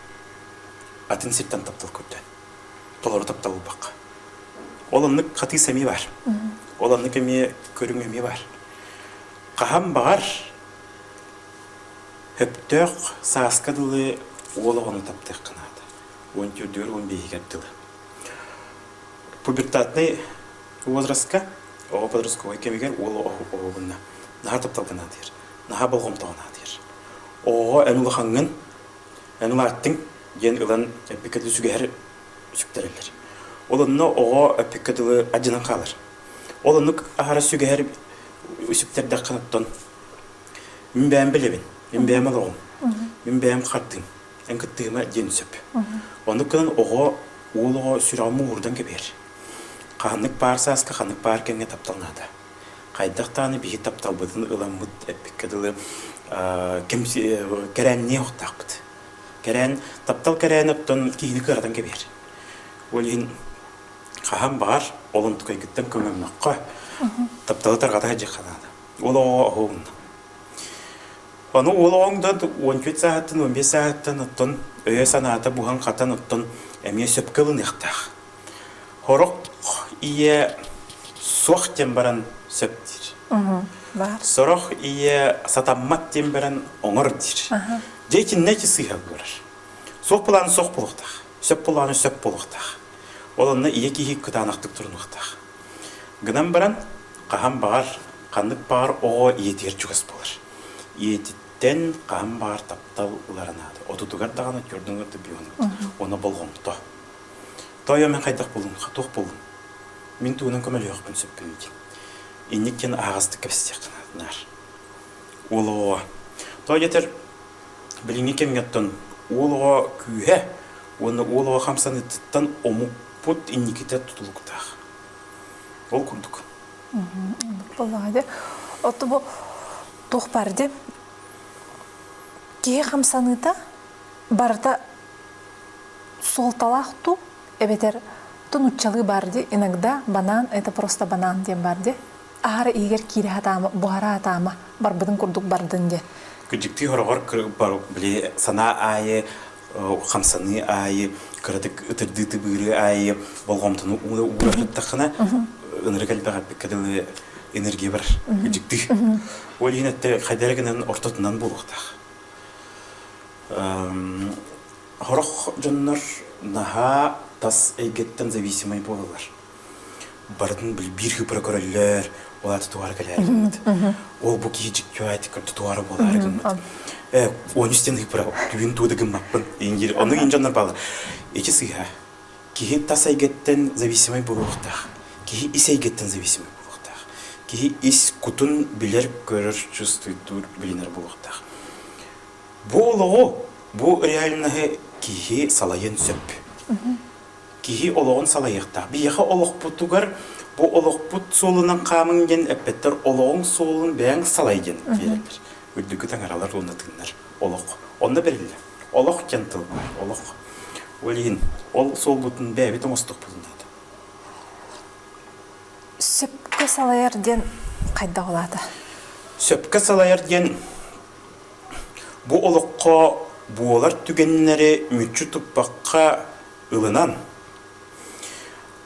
A: атын сиртэн таптал көрдө. Толору таптал булбакка. Ол оннук хатыы сэмии бар. Ол оннук эмиэ көрүҥ эмиэ бар. Хаһан баҕар Хөптөөх сааска дылы уол оҕону таптыахха наада. 14-р 15-гэр дылы. Пубертатный возрастка оҕо подростковай кэмигэр уол оҕобунна наһаа тапталга наадыйар наһаа болҕомтоҕо наадыйар оҕоҕо эн улахаҥҥын Эн улааттыҥ диэн ылан эппиккэти сүгэһэр сүктэрэллэр. Ол онно оҕо эппиккэ дылы адьынан хаалар. Ол оннук аһара сүгэһэр сүктэрдэххэ оттон мин бэйэм билэбин, мин бэйэм олоҕум, мин бэйэм хардыым, эн кыттыһыма диэн сөп. Оннук гынан оҕо уол оҕо сүрэҕин мууһурдан кэбиһэр. Ханнык баар сааска ханнык баар кэмҥэ таптал наада. Хайдах даҕаны биһи тапталбытын ыламмыт эппиккэ дылы кэмси кэрээнниэ охтоохпут. Кэрээн, таптал кэрээн оттон киһини кыаратан кэбиһэр. Ол иһин хаһан баҕар олунтукайгыттан көҥөмнөххө, тапталы тарҕата сылдьыахха наада. Ол оҕо оһугунна. Ону уол оҕоҥ да он үт сааттан, он бес сааттан, оттон өйө санаата буһан хатан, оттон эмиэ сөпкө ылыныахтаах. Сорох ийэ суох диэн баран сөп диир. Баар. Сорох ийэ сатаммат диэн баран оҥор диир. Дьэ итиннэ ити сыыһа буолар. Суох былааны суох буолуохтаах. Сөп былааны сөп буолуохтаах. Ол онно ийэ киһи кытаанахтык турунуохтаах. Гынан баран хаһан баҕар ханнык баҕар оҕо ийэтигэр чугас буолар. Ийэтиттэн хаһан баҕар таптал ылара наада. Отутугар даҕаны, отуордугар да бөҕөнү. Оно болҕомто. Тоойо, мин хайдах булуҥ, туох булуҥ? Мин тугунан көмөлөһүөхпүн сөппүнүй дии. Инник диэн аһаҕастык кэпсэтиэххин наар. Уол оҕоҕо. Той дэтэр билиҥҥи кэмҥэттэн уол оҕо күүһэ уонна уол оҕо хамсаныытыттан омукпут инникитэ тутулуктаах. Ол курдук. Буоллаҕа дии. Оту бу туох бар дии? Киһи хамсаныыта барыта суолталаах туу эбэтэр то нууччалыы баар дии иногда банаан это просто банаан диэн баар дии аһара иһигэр киирэ сатаама буһара сатаама барбытын курдук бардын диэн күдьүктүү хороҕор били санаа аайы хамсаныы аайы кыратык ытырдыы тыбыыры аайы болҕомтону уура туттаххына ынырык элбэҕэппиккэ дылы энергия бар күдьүктүү ол иһин өттө хайдары гынан ортотунан буолуохтаах Хорох дьоннор наһаа тас эйгэттэн зависимый буолалар. Барытын бииргэ көрөллөр, ол аата туора кэлээргиммит. Ол бу киһи дьиктиоатик туора буолаары гыммыт. Э, он үстен ыпыра түүн тууда гыммаппын. Индир ону инжоннор баала. Эчи сыыха. Киһи тас эйгэттэн зависимый буолуохтаах. Киһи ис эйгэттэн зависимый буолуохтаах. Киһи ис кутун билэр, көрөр, чувствуйдуур, билинэр буолуохтаах. Бу олоҕу, бу реальноһы киһи салайан сөп. Киһи олоҕун салайыахтаах. Биһиэхэ олохпутугар бу олохпут суолунан хаамыҥ диэн эппэттэр олоҕуҥ суолун бэйэҥ салай диэн биэрэллэр. Үрдүкү таҥаралар уонна тыыннар. Олох. Онно бэриллэр. Олох диэн тыл баар. Олох. Ол иһин ол суолбутун бэйэбит оҥостохпутун наада. Сөпкө салайар диэн хайдах улаата? Сөпкө салайар диэн Бу олоххо буолар түгэннэри мүччү туппакка ылынан,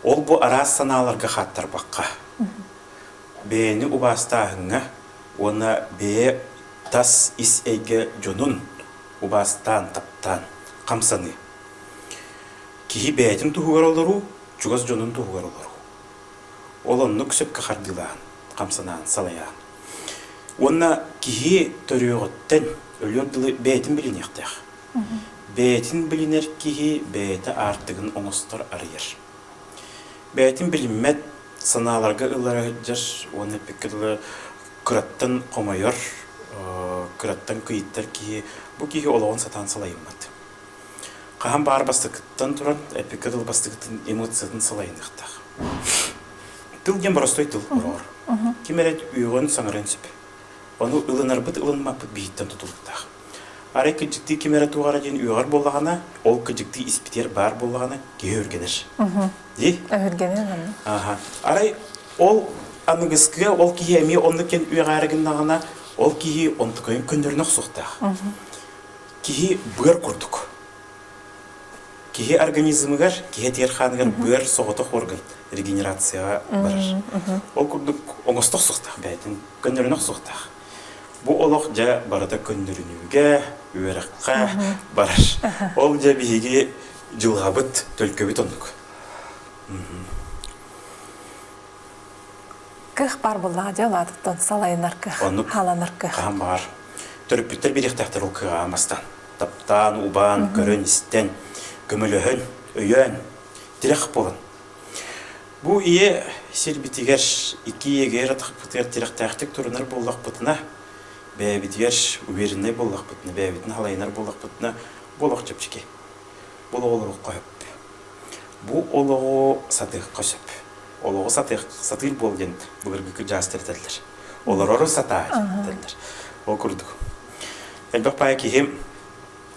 A: ол-бу араас санааларга хааттарбакка, бэйэни убаастааһыҥҥа уонна бэйэ тас ис эйгэ дьонун убаастаан, таптаан хамсаныы. Киһи бэйэтин туһугар олоруу, чугас дьонун туһугар олоруу. Ол оннук сөпкө хардыылаан, хамсанаан, салайаан. Уонна киһи төрүөҕүттэн өлүөн тылы бэйэтин билиниэхтээх. Бэйэтин билинэр киһи бэйэтэ аартыгын оҥостор, арыйар. Бэйэтин билиммэт санааларга ылара сылдьар уонна эппиккэ дылы кыраттан хомойор, кыраттан кыйыттар киһи, бу киһи олоҕун сатаан салайыммат. Хаһан баҕар бастакыттан туран, эпикка дылы бастакытын эмоциятын салайыныахтаах. Тыл диэн боростой тыл ороҕор. Ким эрэ үөҕүөн, саҥарыан сөп. Ону ылынарбыт, ылынмаппыт биһиттэн тутулуктаах. Арай кырдьыктыы ким эрэ туох эрэ диэн үөҕэр буоллаҕына, ол кырдьыктыы испитиэр баар буоллаҕына, киһи өргөнөр. Дии? Өһүргэнэр гынна. Ааһа. Арай ол аныгыскыга ол киһи эмиэ оннук диэн үөҕээри гыннаҕына, ол киһи онтукайын көннөрүнэ охсуохтаах. Киһи быар курдук. Киһи организмыгар, киһи этигэр-хааныгар быар соҕотох орган регенерацияҕа барар. Ол курдук оҥостох суохтаах бэйэтин, көннөрүнөх суохтаах. Бу олох дьэ барыта көннөрүнүүгэ, үөрэххэ барар. Ол дьэ биһиги дьылҕабыт, төлкөбүт оннук. Көх бар буллаҕа дьэ улаатыттан салайынарга, хааланарга. Хаһан баҕар төрөппүттэр биэриэхтээхтэр ол кыаҕа мастан. Таптаан, убаан, көрөн-истэн, көмөлөһөн, өйөөн, тирэх буолан. Бу ийэ сирбитигэр iki ийэгээр атахпытыгар тирэхтээхтик турунар буоллахпытына, бэйэбитигэр увереннай буоллахпытына, бэйэбитин халайынар буоллахпытына, буолах чэпчэки. Бұл оҕолорукка хөп. Бу олоҕу сатыахха сөп. Олоҕу сатыах, сатыыр буол диэн былыргы дьаастар этэллэр. Олорору сатаай этэллэр. Ол курдук. Элбэх баай киһи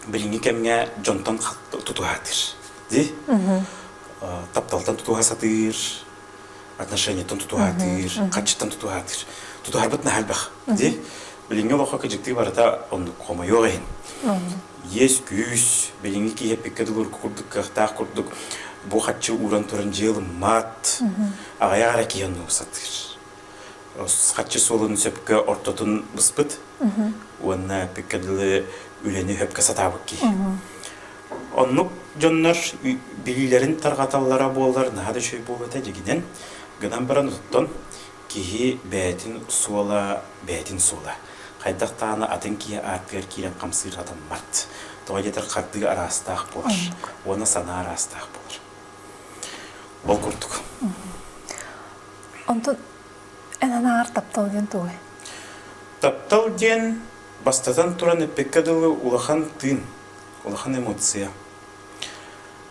A: билиҥҥи кэмҥэ дьонтон тутуһа сатыыр. Дии? Тапталтан тутуһа сатыыр, отношенияттан тутуһаатыыр, хаччыттан тутуһаатыыр. Тутуһарбыт наһаа элбэх. Ди, билиҥҥи олоххо кыдьыктыы барыта оннук хомойуох иһин. Иэс-күүс, билиҥҥи киһи дылыргы курдук кыахтаах курдук бу хаччы ууран туран дьыал ыммаат, аҕайах эрэ киһи оннук сатыыр. Хаччы суолун сөпкө ортотун быспыт уонна бүккэ дылы үлэни сөпкө сатаабыт киһи. Оннук дьоннор билиилэрин тарҕаталлара буоллар наһаа да үчүгэй буолуо этэ дьигинэн гынан баран оттон киһи бэйэтин суола бэйэтин суола хайдах даҕаны атын киһи ааттыгар киирэн хамсыыр атаммат тоҕо диэтэр хардыы араастаах буолар уонна санаа араастаах буолар ол курдук онтон эн анааҕар таптал диэн тугай таптал диэн бастатан туран эппиккэ дылы улахан тыын Улахан эмоция.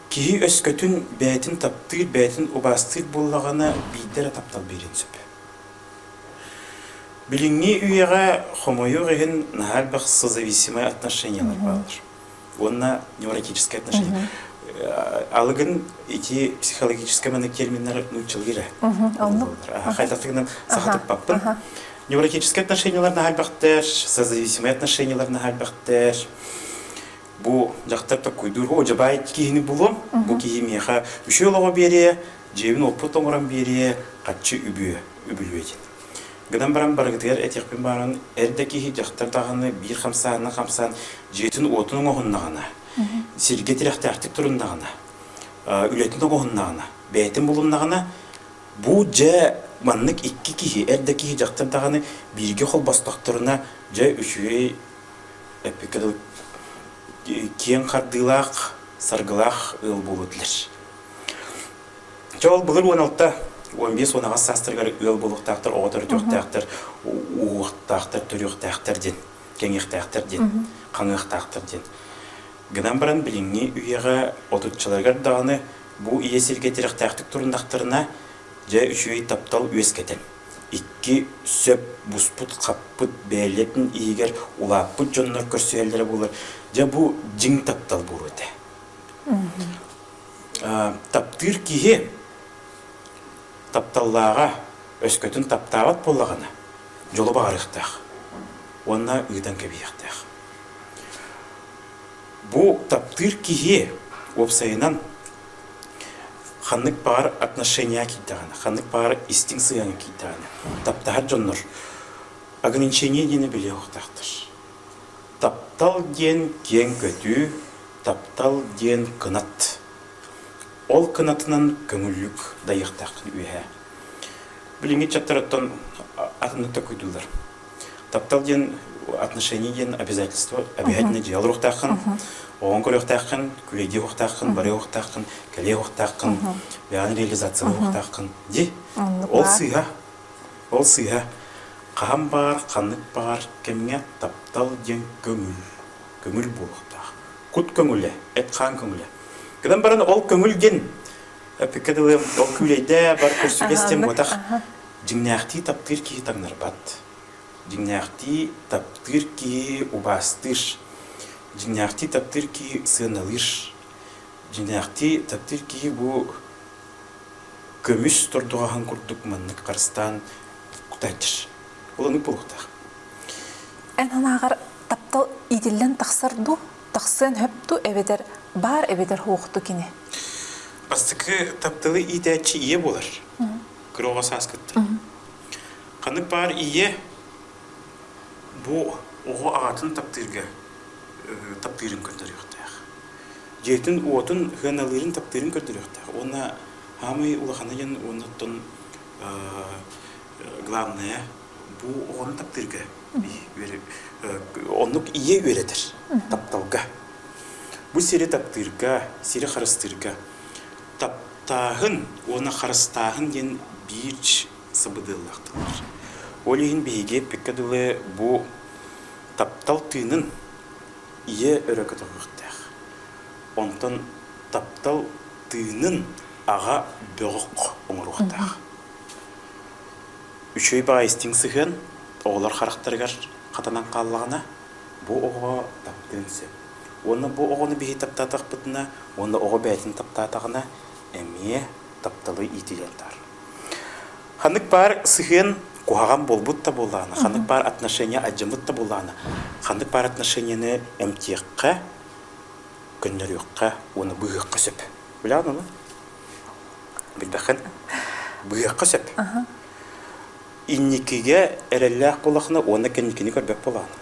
A: Киһи өскөтүн бэйэтин таптыыр, бэйэтин убаастыыр буоллаҕына, биирдэ эрэ таптал биэриэн сөп. Билиҥҥи үйэҕэ хомойуох иһин наһаа элбэх созависимый отношениялар бааллар уонна невротические отношения. Алыгын ити психологический терминнэр нууччалыыра. Оннук. Хайдах гынан саха туппаппын. Невротические отношениялар наһальбахтер, созависимые отношениялар наһальбахтер. Бу дьахтар таккуйдуур о дьабай киһини булуом. Бу киһи миэхэ үчү олоҕо биэриэ, дьиэбин оппут оҥорон биэриэ, хаччы үбүө, үбүлүөйдин. Гынан баран барыгытыгар этиэхпин бааран эрдэ киһи дьахтар даҕаны биир хамсаанна хамсаан дьиэтин уотун оҥоһуннаҕына, сиргэ тирэхтээхтик туруннаҕына, үлэтин оҥоһуннаҕына, бэйэтин булуннаҕына, Бу дьэ маннык икки киһи, эр да киһи дьахтар даҕаны бииргэ холбостохторуна, дьэ үчүгэй эппиккэ дылы киэҥ хардыылаах, саргылаах ыал буолуо этилэр. Чэ ол былыр уон алта, уон биэс, уон аҕыс саастарыгар ыал буолуохтаахтар, оҕо төрүтүөхтээхтэр, ууахтаахтар, төрүөхтээхтэр диэн, кэҥиэхтээхтэр диэн, хаҥыахтаахтар диэн. гынан баран билиҥҥи үйэҕэ отуччаларыгар даҕаны бу ийэ сиргэ тирэхтээхтик туруннахтарына, дьэ үчүгэй таптал үөскэтэр. Икки сөп буспут-хаппыт бэйэлэтин иһигэр улааппыт дьоннор көрсүһэллэрэ буолар. Дьэ бу дьиҥ таптал буолуо этэ. таптыыр киһи тапталлааҕа өскөтүн таптаабат буоллаҕына дьолу баҕарыахтаах уонна ыытан кэбиһиэхтээх. Бу таптыыр киһи уопсайынан ханнык баҕар отношения киирдэҕинэ, ханнык баҕар истиҥ сыһыаҥҥа киирдэҕинэ, таптаһар дьоннор ограничение диэни билиэхтээхтэр. Таптал диэн киэҥ көтүү, таптал диэн кынат. Ол кынатынан көҥүллүк дайыахтааххын үөһээ. Билиҥҥи чаттарыттан атыннык да куйдуулар. таптал диэн отношения диэн обязательство обязательно дьиэл руохтааххын оҕоҥ көрүөхтээххин күлэйдии уохтааххын бары уохтааххын кэлиэ уохтааххын бэйэҕин реализация уохтааххын ди ол сыыһа ол сыыһа хаһан баар ханнык баар кэмҥэ таптал диэн көҥүл көҥүл буолуохтаах кут көҥүлэ эт хаан көҥүлэ гынан баран ол көҥүл диэн ол күүлэйдэ бар көрсүгэс тем уотах Дьиҥнээхтии таптыыр киһи таҥнарбат. Дьиҥнээхтии таптыыр киһи убаастыыр. Дьиҥнээхтии таптыыр киһи сыаналыыр. Дьиҥнээхтии таптыыр киһи бу көмүс тордугаһын курдук маннык харыстаан кутайдыр. Ол оннук буолуохтаах. Эн анааҕар таптал иитиллэн тахсар дуу, тахсыан сөп дуу эбэтэр баар эбэтэр суохту кини? Бастакы тапталы иитээччи ийэ буолар. кыраҕа сааскыттан. Ханнык баар ийэ бу оҕо аҕатын таптыырга таптыырын көрдөрүөхтээх. Дьиэтин уотун хыаналыырын таптыырын көрдөрүөхтээх. Уонна саамай улаханы дьон уоннаттан главное бу оҕону таптыырга оннук ийэ үөрэтэр тапталга. Бу сири таптыырга, сири харыстыырга таптааһын уонна харыстааһын диэн биир сабыдыаллаахтылар. Ол иһин биһиги эппиккэ дылы бу таптал тыынын ийэ өрө көтөҕүөхтээх. Онтон таптал тыынын аҕа бөҕөх оҥоруохтаах. Үчүгэй баҕа истиҥ сыһыан оҕолор харахтарыгар хатанан хааллаҕына бу оҕоҕо таптыан сөп. Уонна бу оҕону биһи таптаатахпытына уонна оҕо бэйэтин таптаатаҕына эмиэ тапталы иитиэн таар. Ханнык баар сыһыан куһаҕан буолбут да буоллаҕына, ханнык баар отношения адьыммыт да буоллаҕына, ханнык баар отношенияны эмтиэххэ, көннөрүөххэ уонна быыһыахха сөп. Билэҕин ону? Билбэххин? Быыһыахха сөп. Инникигэ эрэллээх буоллахына уонна кэнникини көрбөт буолаҕына.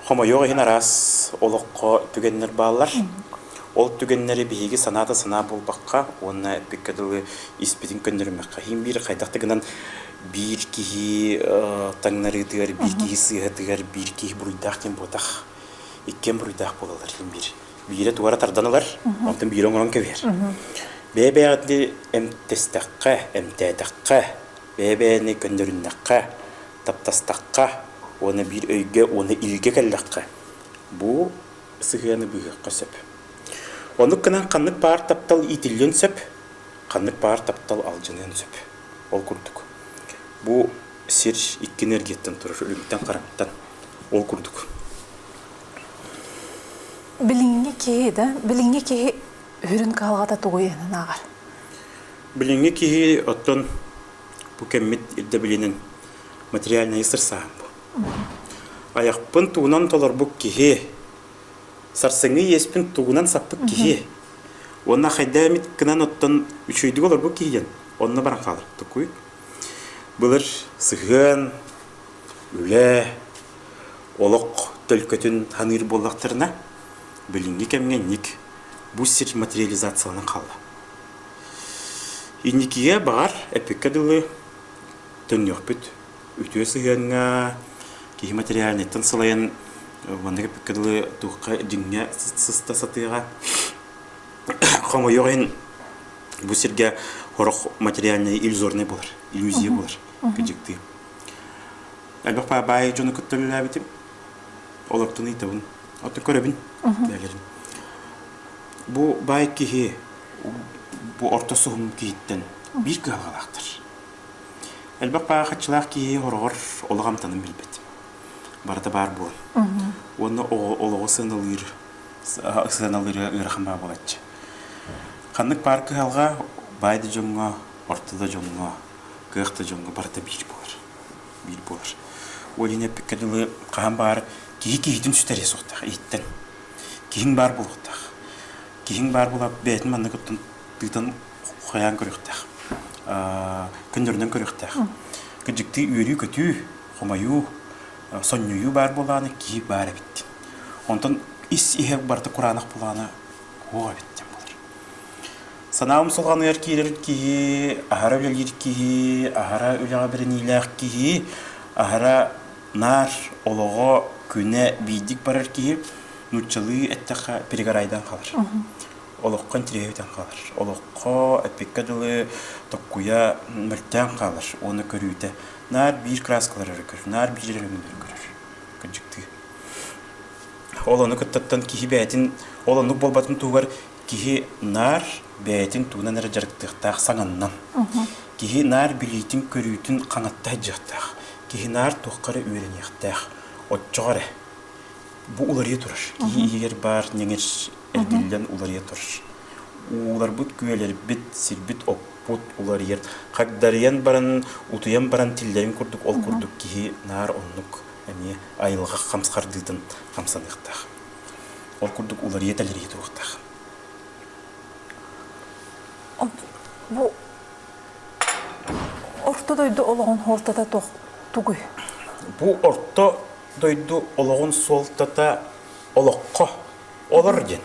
A: Хомойуох иһин араас олоххо түгэннэр бааллар. Ол түгэннэри биһиги санаа да санаа буолбакка уонна эппиккэ дылы испитин көннөрүмэххэ иһин биир хайдах да гынан биир киһи э, таҥнарыытыгар, биир киһи сыыһатыгар, биир киһи буруйдаах диэн буотах. Иккиэн буруйдаах буолаллар иһин биир. Биирэ туора тардан ылар, онтон биирэ оҥорон кэбиһэр. Бэйэ-бэйэҕитин эмтэстэххэ, эмтээтэххэ, бэйэ-бэйэни көннөрүннэххэ, таптастахха уонна биир өйгө уонна илгэ кэллэххэ бу сыһыаны быыһыахха сөп. Оннук гынан ханнык баар таптал иитиллиэн сөп, ханнык баар таптал алдьаныан сөп. Ол курдук. Бу сир икки энергияттан турар өлүгүттэн хараҥаттан ол курдук. Билиҥҥи киһи да, билиҥҥи киһи үрүн кыһалҕата тугу ааҕар? Билиҥҥи киһи оттон Бу кэммит ирдэбилинэн материальнайы сырсаһан бу. Айахпын тугунан толорбут киһи, сарсыҥҥы иэспин тугунан саппыт киһи, уонна хайдаа эмит кынан оттон үчүгэйдик олорбут киһи диэн онно баран хааларбытыкуй. Былыр сыһыан, үлэ, олох төлкөтүн саныыр буоллахтарына, билиҥҥи кэмҥэ инник бу сир материализацияланан хаалла. Инникигэ, баҕар, эппиккэ дылы, төннүөхпүт. Үтүө сыһыаҥҥа киһи материальнайтан салайан маннык эппиккэ дылы туохха дьиҥҥэ сыста сатыаҕа. Хомойуох иһин, бу сиргэ сорох материальнай иллюзорнай буолар, иллюзия буолар, кыдьыктыы. Элбэх баабаай дьону кытта үлэлээбитим. Олортон ыйытабын. Оттон көрөбүн, бэйэлэрин. Бу баай киһи бу орто суһум киһиттэн биир кыһалҕалаахтар. Элбэх паахаччылаах киһи ороҕор олох амтанын билбэт. Барыта баар буолан. Уонна олоҕу сыаналыыр сыаналыыра ыарахан баа буолаччы. Ханнык баар кыһалҕа баай да дьоҥҥо, орто да дьоҥҥо, кыах да дьоҥҥо барыта биир буолар. Биир буолар. Ол иһин эппиккэ дылы хаһан баар киһи киһитин сүтэриэ суохтаах иһиттэн. Киһиҥ баар буолуохтаах. киһиҥ баар буолаат бэйэтин манна кыттан тыытан хайаан көрүөхтээх көннөрүнэн көрүөхтээх кырдьыктыы үөрүү-көтүү хомойуу сонньуйуу баар буолааны киһи баар эбит онтон ис иһэ барыта кураанах буолааны уох эбит диэн болар санаабын салҕаныгар киирэр киһи аһара үлэлиир киһи аһара үлэҕэ бэриниилээх киһи аһара наар олоҕо күнэ биирдик барар киһи нууччалыы эттэххэ перегорайдан хаалар. Олоххо интириэһитэн хаалар. Олоххо эппиккэ дылы токкуйа мөлтөөн хаалар уонна көрүүтэ наар биир краскалар өрө көрөр, наар биир өрөмүннэри көрөр. Кырдьыктыы. Ол ону кыттаттан киһи бэйэтин ол оннук буолбатын туһугар киһи наар бэйэтин тугунан эрэ дьарыктыахтаах саҥаннан. Киһи наар билиитин-көрүүтүн хаҥатта сылдьыахтаах. Киһи наар туохха эрэ үөрэниэхтээх. Оччоҕо эрэ Бу уларыйа турар. Киһи иһигэр баар ньэҥэр эргиллэн уларыйа турар. Ууларбыт, күөлэрбит, сирбит-оппут уларыйар. Хагдарыйан баран, утуйан баран тиллэрин курдук, ол курдук киһи наар оннук эмиэ айылҕа хамсхардыытын хамсаныахтаах. Ол курдук уларыйа-тэлэрийэ туруохтаах. Бу Орто дойду олоҕун хуортата туох тугуй? Бу орто дойду олоҕун суолтата олоххо олор диэн.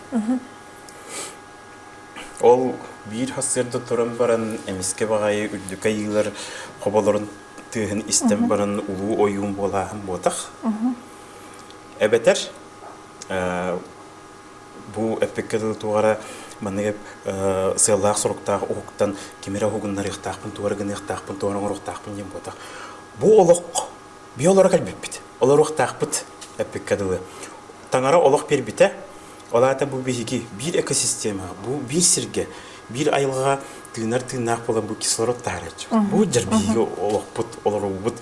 A: Ол биир хасырда туран баран эмискэ баҕайы үрдүк айыылар хоболорун тыаһын истэн баран улуу ойуун буолааһын буотах. Эбэтэр бу эппекке дылы тугара маннык сыаллаах соруктаах уһуктан кимирэ уһугуннарыахтаахпын туора гыныахтаахпын туора оҥоруохтаахпын диэн буотах. Бу олох Биһи олоро кэлбиппит. Олоруохтаахпыт эппиккэ дылы. Таҥара олох биэрбитэ. Ол аата бу биһиги биир экосистема, бу биир сиргэ, биир айылҕаҕа тыынар тыыннаах буолан бу кислород таһарааччы. Бу дьэр биһиги олохпут, олоруубут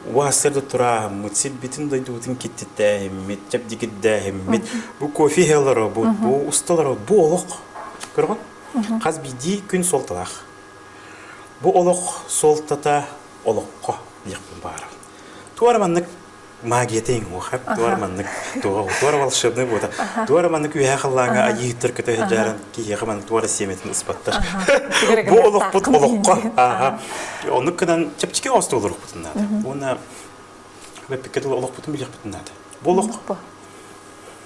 A: уаастар да турааһыммыт, сирбитин дойдубутун киттиттээһиммит, чэбдигирдээһиммит, бу кофе иһэ олоробут, бу усталоробут, бу олох. Көрөҕүн? Хас биирдии күн суолталаах. Бу олох суолтата олоххо диэхпин баара. Туора маннык магията иҥуохап, туора маннык туора волшебный буота, туора маннык үөһэ халлааҥа айыыттар кыта сылдьааран киһиэхэ манна туора сиэмэтин ыспаттар. Бу олохпут олоххо ааха. Оннук гынан чэпчэки оостуулурукпутун наада. Уонна бэппикке тыл олохпутун билиэхпитин наада. Бу олох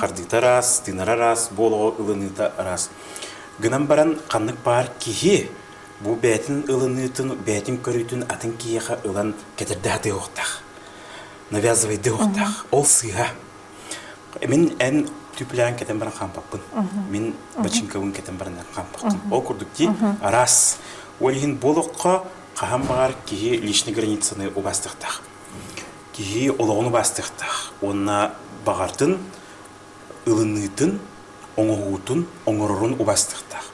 A: хардыыта араас, тыынара араас, бу олоҕу ылыныыта араас. Гынан баран, ханнык баар киһи бу бэйэтин ылыныытын, бэйэтин көрүүтүн атын киһиэхэ ылан кэтэрдэ сатыахтаах. Навязывайдыахтаах. Ол сыыһа. Мин эн түплээн кэтэн баран хампаппын. Мин бачыҥкабын кэтэн баран хампаппын. Ол курдук дии, араас. Ол иһин бу олоххо хаһан баҕар киһи личнай границаны убастыахтаах. Киһи олоҕун убаастыахтаах уонна баҕатын ылыныытын, оҥоһуутун, оҥорорун убаастыахтаах.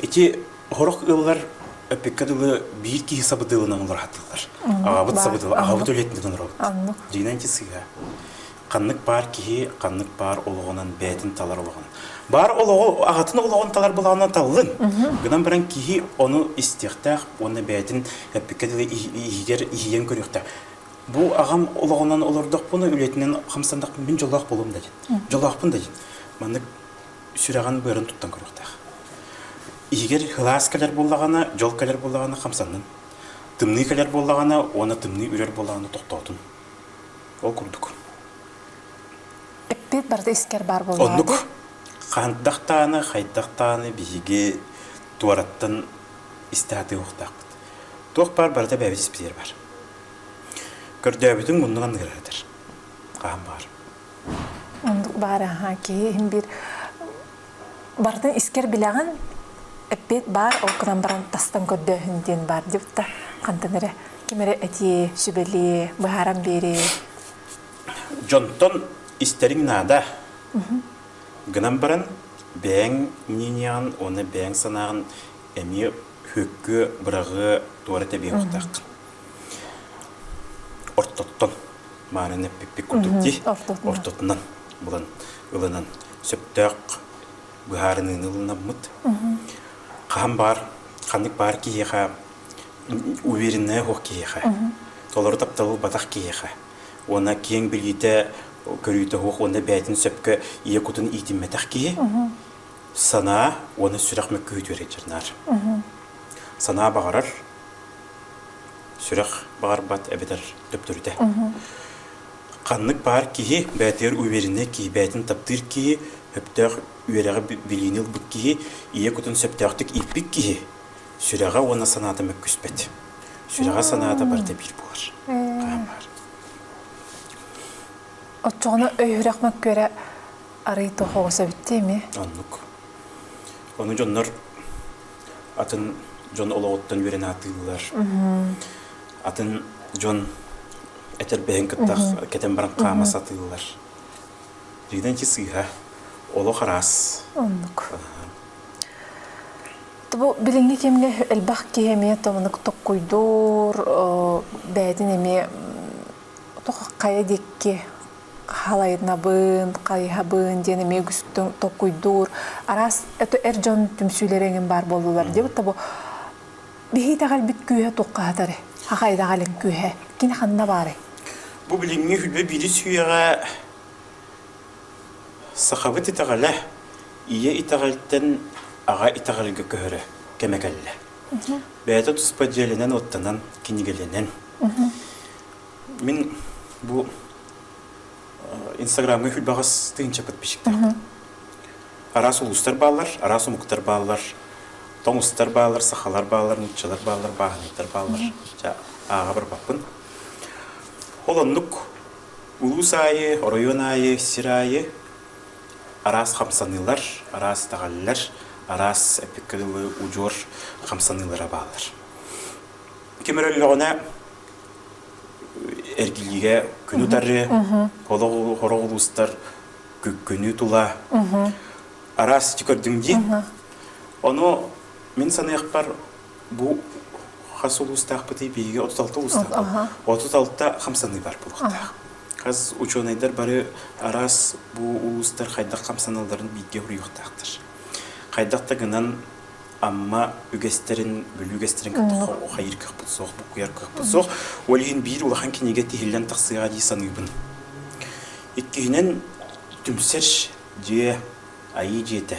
A: Ити сорох ыаллар эппиккэ дылы биир киһи сабыдыалынан олорор хатыыллар. Аҕабыт сабыдыала, аҕабыт үлэтинэн олоробут. Дьиҥинэн ити сыыһа. ханнык баар киһи ханнык баар олоҕунан бэйэтин талар олоҕун. Баар олоҕу аҕатын олоҕун талар былаанынан таллын. Гынан баран киһи ону истиэхтээх уонна бэйэтин эппиккэ дылы иһигэр иһийэн көрүөхтээх. Бу аҕам олоҕунан олордохпуна үлэтинэн хамсандахпын мин дьоллоох болом да дин. Дьоллоохпун да дин. Маннык сүрэҕин быарын туттан көрүөхтээх. Иһигэр хылаас кэлэр буоллаҕына, дьол кэлэр буоллаҕына хамсаннын. Тымныы кэлэр буоллаҕына, уонна тымныы үрэр буоллаҕына тохтоотун. Ол курдук. Эппит барыта искэр баар буолуо. Оннук. Хантах дааны, хайдах дааны биһиги туораттан истэ атыылыктаахпыт. Туох баар барыта бэбис сипсиэр бар. Көрдөөбүтүн муннуган ыгыратар. Хаан баар. Оннук баар аха киһи иһин бир барытын искэр билэҕин эппиэт баар ол гынан баран тастан көрдөөһүн диэн баар диэбит да хантан эрэ ким эрэ этиэ сүбэлиэ быһааран биэриэ дьонтон истэриҥ наада гынан баран бэйэҥ мнениеҕын уонна бэйэҥ санааҕын эмиэ күөккү быраҕыы туора тэбиэхтаах ортоттон маараны эппиппит курдук дии ортотунан булан ылынан сөптөөх быһаарыныыны ылынаммыт хаһан баар ханнык баар киһиэхэ уверенная уох киһиэхэ толору тапталы ылбатах киһиэхэ уонна киэҥ билиитэ көрүүтэ уох уонна бэйэтин сөпкө ийэ кутун иитиммэтэх киһи санаа уонна сүрэх мөккүһүтүөрэ наар санаа баҕарар сүрэх баҕарбат эбэтэр төптөрүтэ. Ханнык баар киһи бэйэтигэр увереннай киһи, бэйэтин таптыыр киһи, сөптөөх үөрэҕи билиини ылбыт киһи, ийэ кутун сөптөөхтүк ииппит киһи сүрэҕэ уонна санаата мөккүспэт. Сүрэҕэ санаата барыта биир буолар. Хаһан баар. Оччоҕуна өйүрэх мөккүөрэ арый тоҕоҕо сөбүттүү эми? Оннук. Ону дьоннор атын дьон олоҕуттан үөрэн аатыыллар. Атын дьон этэрбэһин кытта кэтэн баран хаама сатыыллар. Биридан чи сыыһа олох араас. Оннук. Бу билиҥҥи кэмҥэ элбэх киһи эмиэ томунук токкуйдуур, бэйэтин эмиэ хайа диэкки халайнабын, хайыһабын диэн эмиэ гүстүн токуйдуур араас эр дьон түмсүүлэрэ эҥин баар буоллулар диэбит тобу биһиитэҕэлбит күүһэ туоххаһатары ахайдаҕалин күүһэ кини ханна баарай бу билиҥҥи үлэ бирис үйэҕэ сахабыт итэҕэлэ ийэ итэҕэлтэн аҕа итэҕэлгэ көһөрө кэмэ кэллэ бэйэтэ туспа дьиэлэнэн оттанан кинигэлэнэн Мин бу Инстаграмҥа баҕас тыһыынча подписчиктаах. Араас улуустар бааллар, араас омуктар бааллар, тоҥ устар бааллар, сахалар бааллар, нууччалар бааллар, бааһынайдар бааллар. Ча ааҕа барбаппын. Ол оннук улуус аайы, оройуон аайы, сир аайы араас хамсаныылар, араас даҕаллар, араас эпиккэ дылы удьуор хамсаныылара бааллар. Ким эрэ өллөҕүнэ эргилиигэ күнү тарыы, олох хороҕ улуустар күнү тула араас сити көрдүм диин. Ону мин саныахпар бу хас улуустаахпытый биһиги отут алта улуустаахпыт. Отут алта хамсаныы бар булуктаах. Хас учуонайдар бары араас бу улуустар хайдах хамсаналларын бииргэ уруйуохтаахтар. Хайдах да гынан Амма үгэстэрин, Бүлүү үгэстэрин кытта хайыыр кыахпыт суох, букуйар кыахпыт суох. Ол иһин биир улахан кинигэ тиһиллэн тахсыаҕа дии саныыбын. Иккиһинэн, түмсэр дьиэ, айыы дьиэтэ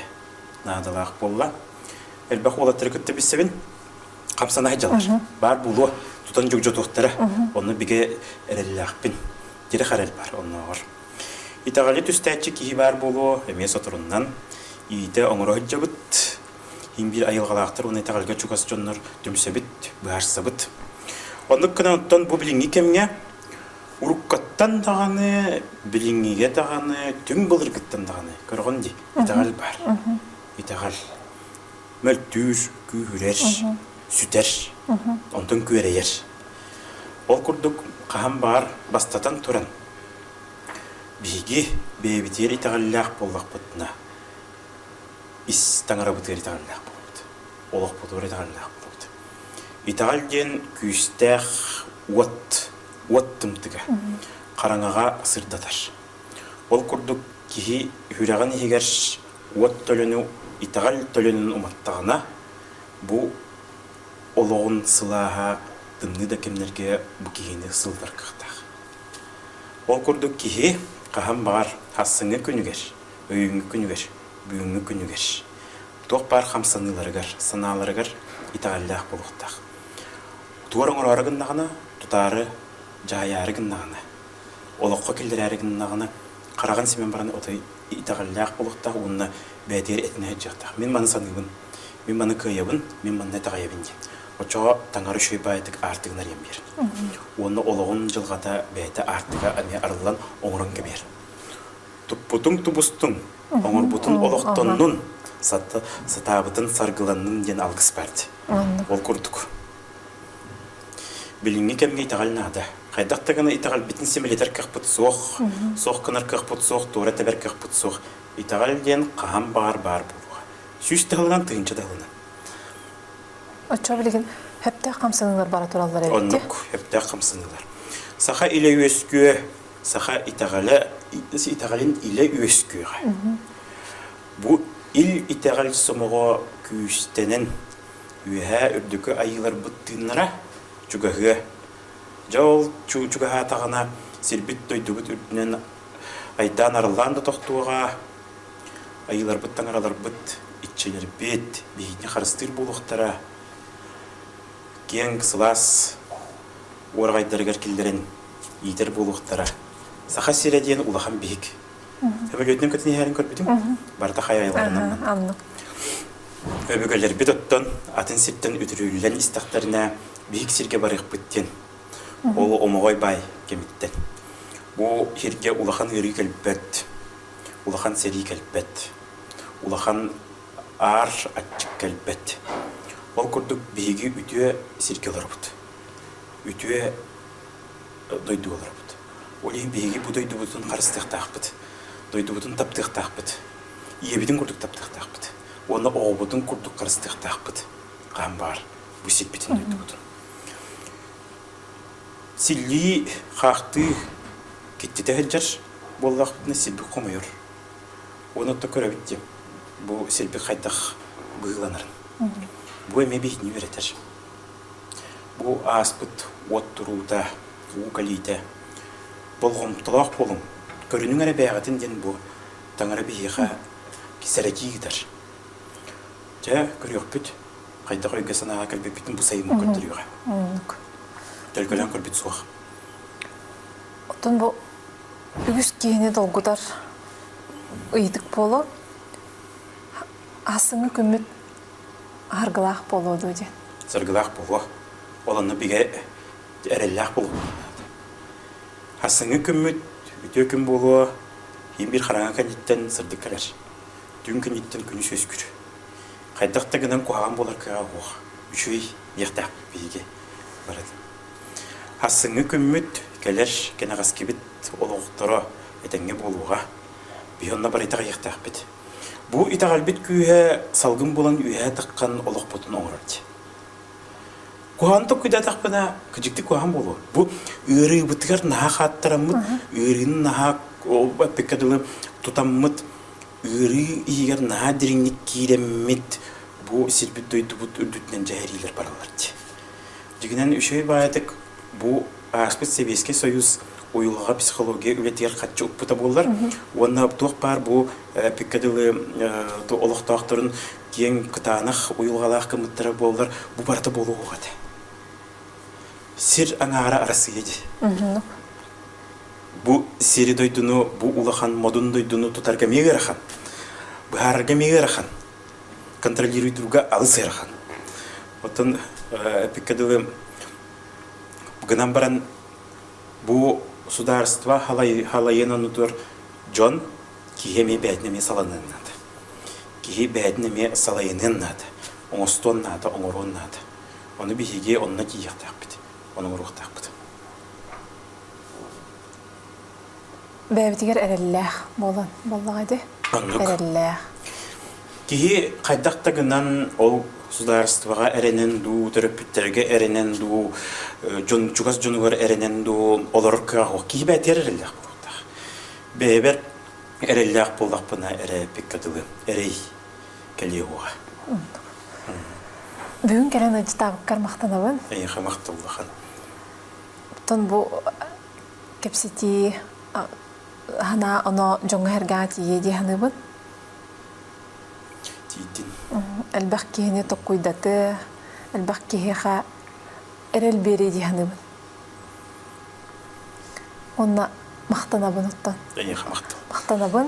A: наадалаах буолла. Элбэх уолаттары кытта билсэбин. Хамсанаһы дьалар. Баар буолуо, тутан дьогдьотуохтара. Онно бигэ эрэллээхпин. Тирэх эрэл бар оннооҕор. Итэҕэли түстээччи киһи баар буолуо, эмиэ соторунан иитэ оҥоро сылдьабыт. Иһин биир айылҕалаахтар уонна итэҕэлгэ чугас дьоннор түмсэбит, быһаарсабыт. Оннук гынан оттон бу билиҥҥи кэмҥэ уруккаттан даҕаны, билиҥҥигэ даҕаны, түҥ былыргыттан даҕаны көрҕөн дии, итэҕэл баар. Итэҕэл мөлтүүр, күүһүрэр, сүтэр, онтон күөрэйэр. Ол курдук хаһан баар бастатан туран Биһиги бэйэбитигэр итэҕэллээх буоллахпытына, ис таҥарабытыгар итэҕэллээх буолабыт, олохпутугар итэҕэллээх буолабыт. Итэҕэл диэн күүстээх уот, уот тымтыга, хараҥаҕа сырдатар. Ол курдук киһи үрэҕин иһигэр уот төлөнү, итэҕэл төлөнүн уматтаҕына, бу олоҕун сылааһа тымныы да кэмнэргэ бу киһини сылытар кыахтаах. Ол курдук киһи хаһан баҕар ахсыҥҥы күнүгэр, өйүүҥҥү күнүгэр, бүгүҥҥү күнүгэр туох баар хамсаныыларыгар, санааларыгар итэҕэллээх буолуохтаах. Тугу оҥороору гыннаҕына, тутаары дьаһайаары гыннаҕына, олоххо киллэрээри гыннаҕына, хараҕын симэн баран отой итэҕэллээх буолуохтаах уонна бэйэтигэр этинэ сылдьыахтаах. Мин маны саныыбын, мин маны кыайабын, мин манна итэҕэйэбин дии. Оччоҕо таҥара үчүгэй баайытык аартыгын арыйан биэр. Уонна олоҕун дьылҕата бэйэтэ аартыга эмиэ арыллан оҥорон кэбиэр. Туппутуҥ тубустуҥ, оҥорбутун олохтоннун, сатаабытын саргыланнын диэн алгыс баар дии. Ол курдук. Билиҥҥи кэмҥэ итэҕэл наада. Хайдах да гына итэҕэлбитин симэлитэр кыахпыт суох, суох гынар кыахпыт суох, туора тэбэр кыахпыт суох. Итэҕэл диэн хаһан баҕар баар буолуоҕа. Сүүс таһылынан, тыһыынча таһылынан. Оччо билигин хэптээх хамсаныылар бара тураллар эбит. Оннук хэптээх хамсаныылар. Саха илэ үөскүө, саха итэҕэлэ итэҕэлин илэ үөскүөҕэ. Бу ил итэҕэл сомоҕо күүстэнэн үөһээ үрдүкү айыыларбыт тыыннара чугаһыа. Дьол чуу чугаһаатаҕына сирбит дойдубут үрдүнэн айдаан арыллаан да тохтуоҕа, Айыыларбыт-таҥараларбыт, иччилэрбит биһиги харыстыыр буолуохтара, киэҥ, сылаас уораҕайдарыгар киллэрэн иитэр буолуохтара. Саха сирэ диэн улахан биһик. Сөбүлүөтүнэн көтөн иһээрин көрбүтүм. Барыта хайайаларынан мын. Аннык. Өбүгэлэрбит оттон атын сиртэн үтүрүүллэн истэхтэринэ биһик сиргэ барыахпыт диэн. Ол омоҕой баай кэмиттэн. Бу сиргэ улахан ыарыы кэлбэт. улахан сэрии кэлбэт, улахан аар аччык кэлбэт. Ол курдук биһиги үтүө сиргэ олоробут. Үтүө дойду олоробут. Ол иһин биһиги бу дойдубутун харыстыахтаахпыт. Дойдубутун таптыахтаахпыт. Ийэбитин курдук таптыахтаахпыт. Уонна оҕобутун курдук харыстыахтаахпыт. Хаан баар бу сирбитин дойдубутун. Силлии, хаахтыы киттитэ сылдьар буоллахпытына сирбит хомойор. Оны отто көрөбүт диэн бу сирбит хайдах быһыыланарын. Бу эмиэ биһини үөрэтэр. Бу ааспыт уот туруута, уу кэлиитэ болҕомтолоох буолуҥ. Көрүнүҥ эрэ бэйэҕитин диэн бу таҥара биһиэхэ сэрэтии ыытар. Дьэ, көрүөхпүт хайдах өйгө-санааҕа кэлбиппитин бу сайын көрдөрүөҕэ. Төлкөлөөн көрбүт суох. Оттон бу үгүс киһини долгутар ыйытык буолуо. Ассыҥы күммүт аргылаах буолуо дуу диэн. Саргылаах буолуо. Ол онно бигэ эрэллээх буолуо. Ассыҥы күммүт үтүө күн буолуо. Ин биир хараҥа кэнниттэн сырдык кэлэр. Түн кэнниттэн күнүс үөскүр. Хайдах да гынан куһаҕан буолар кыаҕа суох. Үчүгэй диэхтээхпит биһиги барыта. Ассыҥҥы күммүт кэлэр кэнэҕэскибит олохторо этэҥҥэ буолуоҕа. Biz onunla bari iteҕiyiqtээхпит. Bu iтэҕэлбит күүһэ салгын булан үөһэ таққан олохпутун оңорор. Куһантық күдәтақпына кыжыкты куһан болу. Бу ыарыыбытыгар наһа қаттараммыт, ыарыыны наһа ол бэппекке дылы тутаммыт Ыарыы иһигэр наһаа дириҥник киирэммит бу сирбит-дойдубут үрдүтүнэн дьэһэриилэр бараллар дии. Дьиҥинэн үчүгэй баайытык бу ааспыт Сэбиэскэй Союз уйулҕаҕа психология үлэтигэр харчы укпута буоллар уонна туох баар бу эпиккэ дылы олохтоохторун киэҥ кытаанах уйулҕалаах гыммыттара буоллар бу барыта буолуох этэ. Сир аҥаара Арассыыйа дии. Бу сири-дойдуну, бу улахан модун дойдуну тутарга эмиэ ыарахан. Быһаарарга эмиэ ыарахан. Контролируй друга алыс ыарахан. Оттон эпиккэ дылы гынан баран бу судаарыстыба халайыан оннутугар дьон киһи эмиэ бэйэтин эмиэ саланыан наада. Киһи бэйэтин эмиэ салайыныан наада. Оҥостуон наада, оҥоруон наада. Ону биһиги онно тиийиэхтээхпит, оноруохтаахпыт. Бэйэбитигэр эрэллээх буолан буоллаҕа ди. Эрэллээх. Киһи хайдах да гынан ол судаарыстыбаҕа эрэнэн дуу, төрөппүттэргэ эрэнэн дуу, дьон чугас дьонугар эрэнэн дуу олорор кыаҕа суох. Киһи бээтигэр эрэллээх буолтаах. Бэйэбэр эрэллээх буоллахпына эрэ пекка дылы. Эрэй. кэлиэ уоҕа. Бүгүн кэлэн ыдьытаабыккар махтанабын. Эйиэхэ махталлахан. Оттон бу кэпсэтии аһына оно дьоҥҥо эргэҕэ тиийиэ дии саныыбын. Тиийдин. Элбэх киһини токуйдаты, элбэх киһиэхэ эрэл биэрии дии саныыбын. Уонна махтанабын оттон. Эйиэхэ махтал. Махтанабын.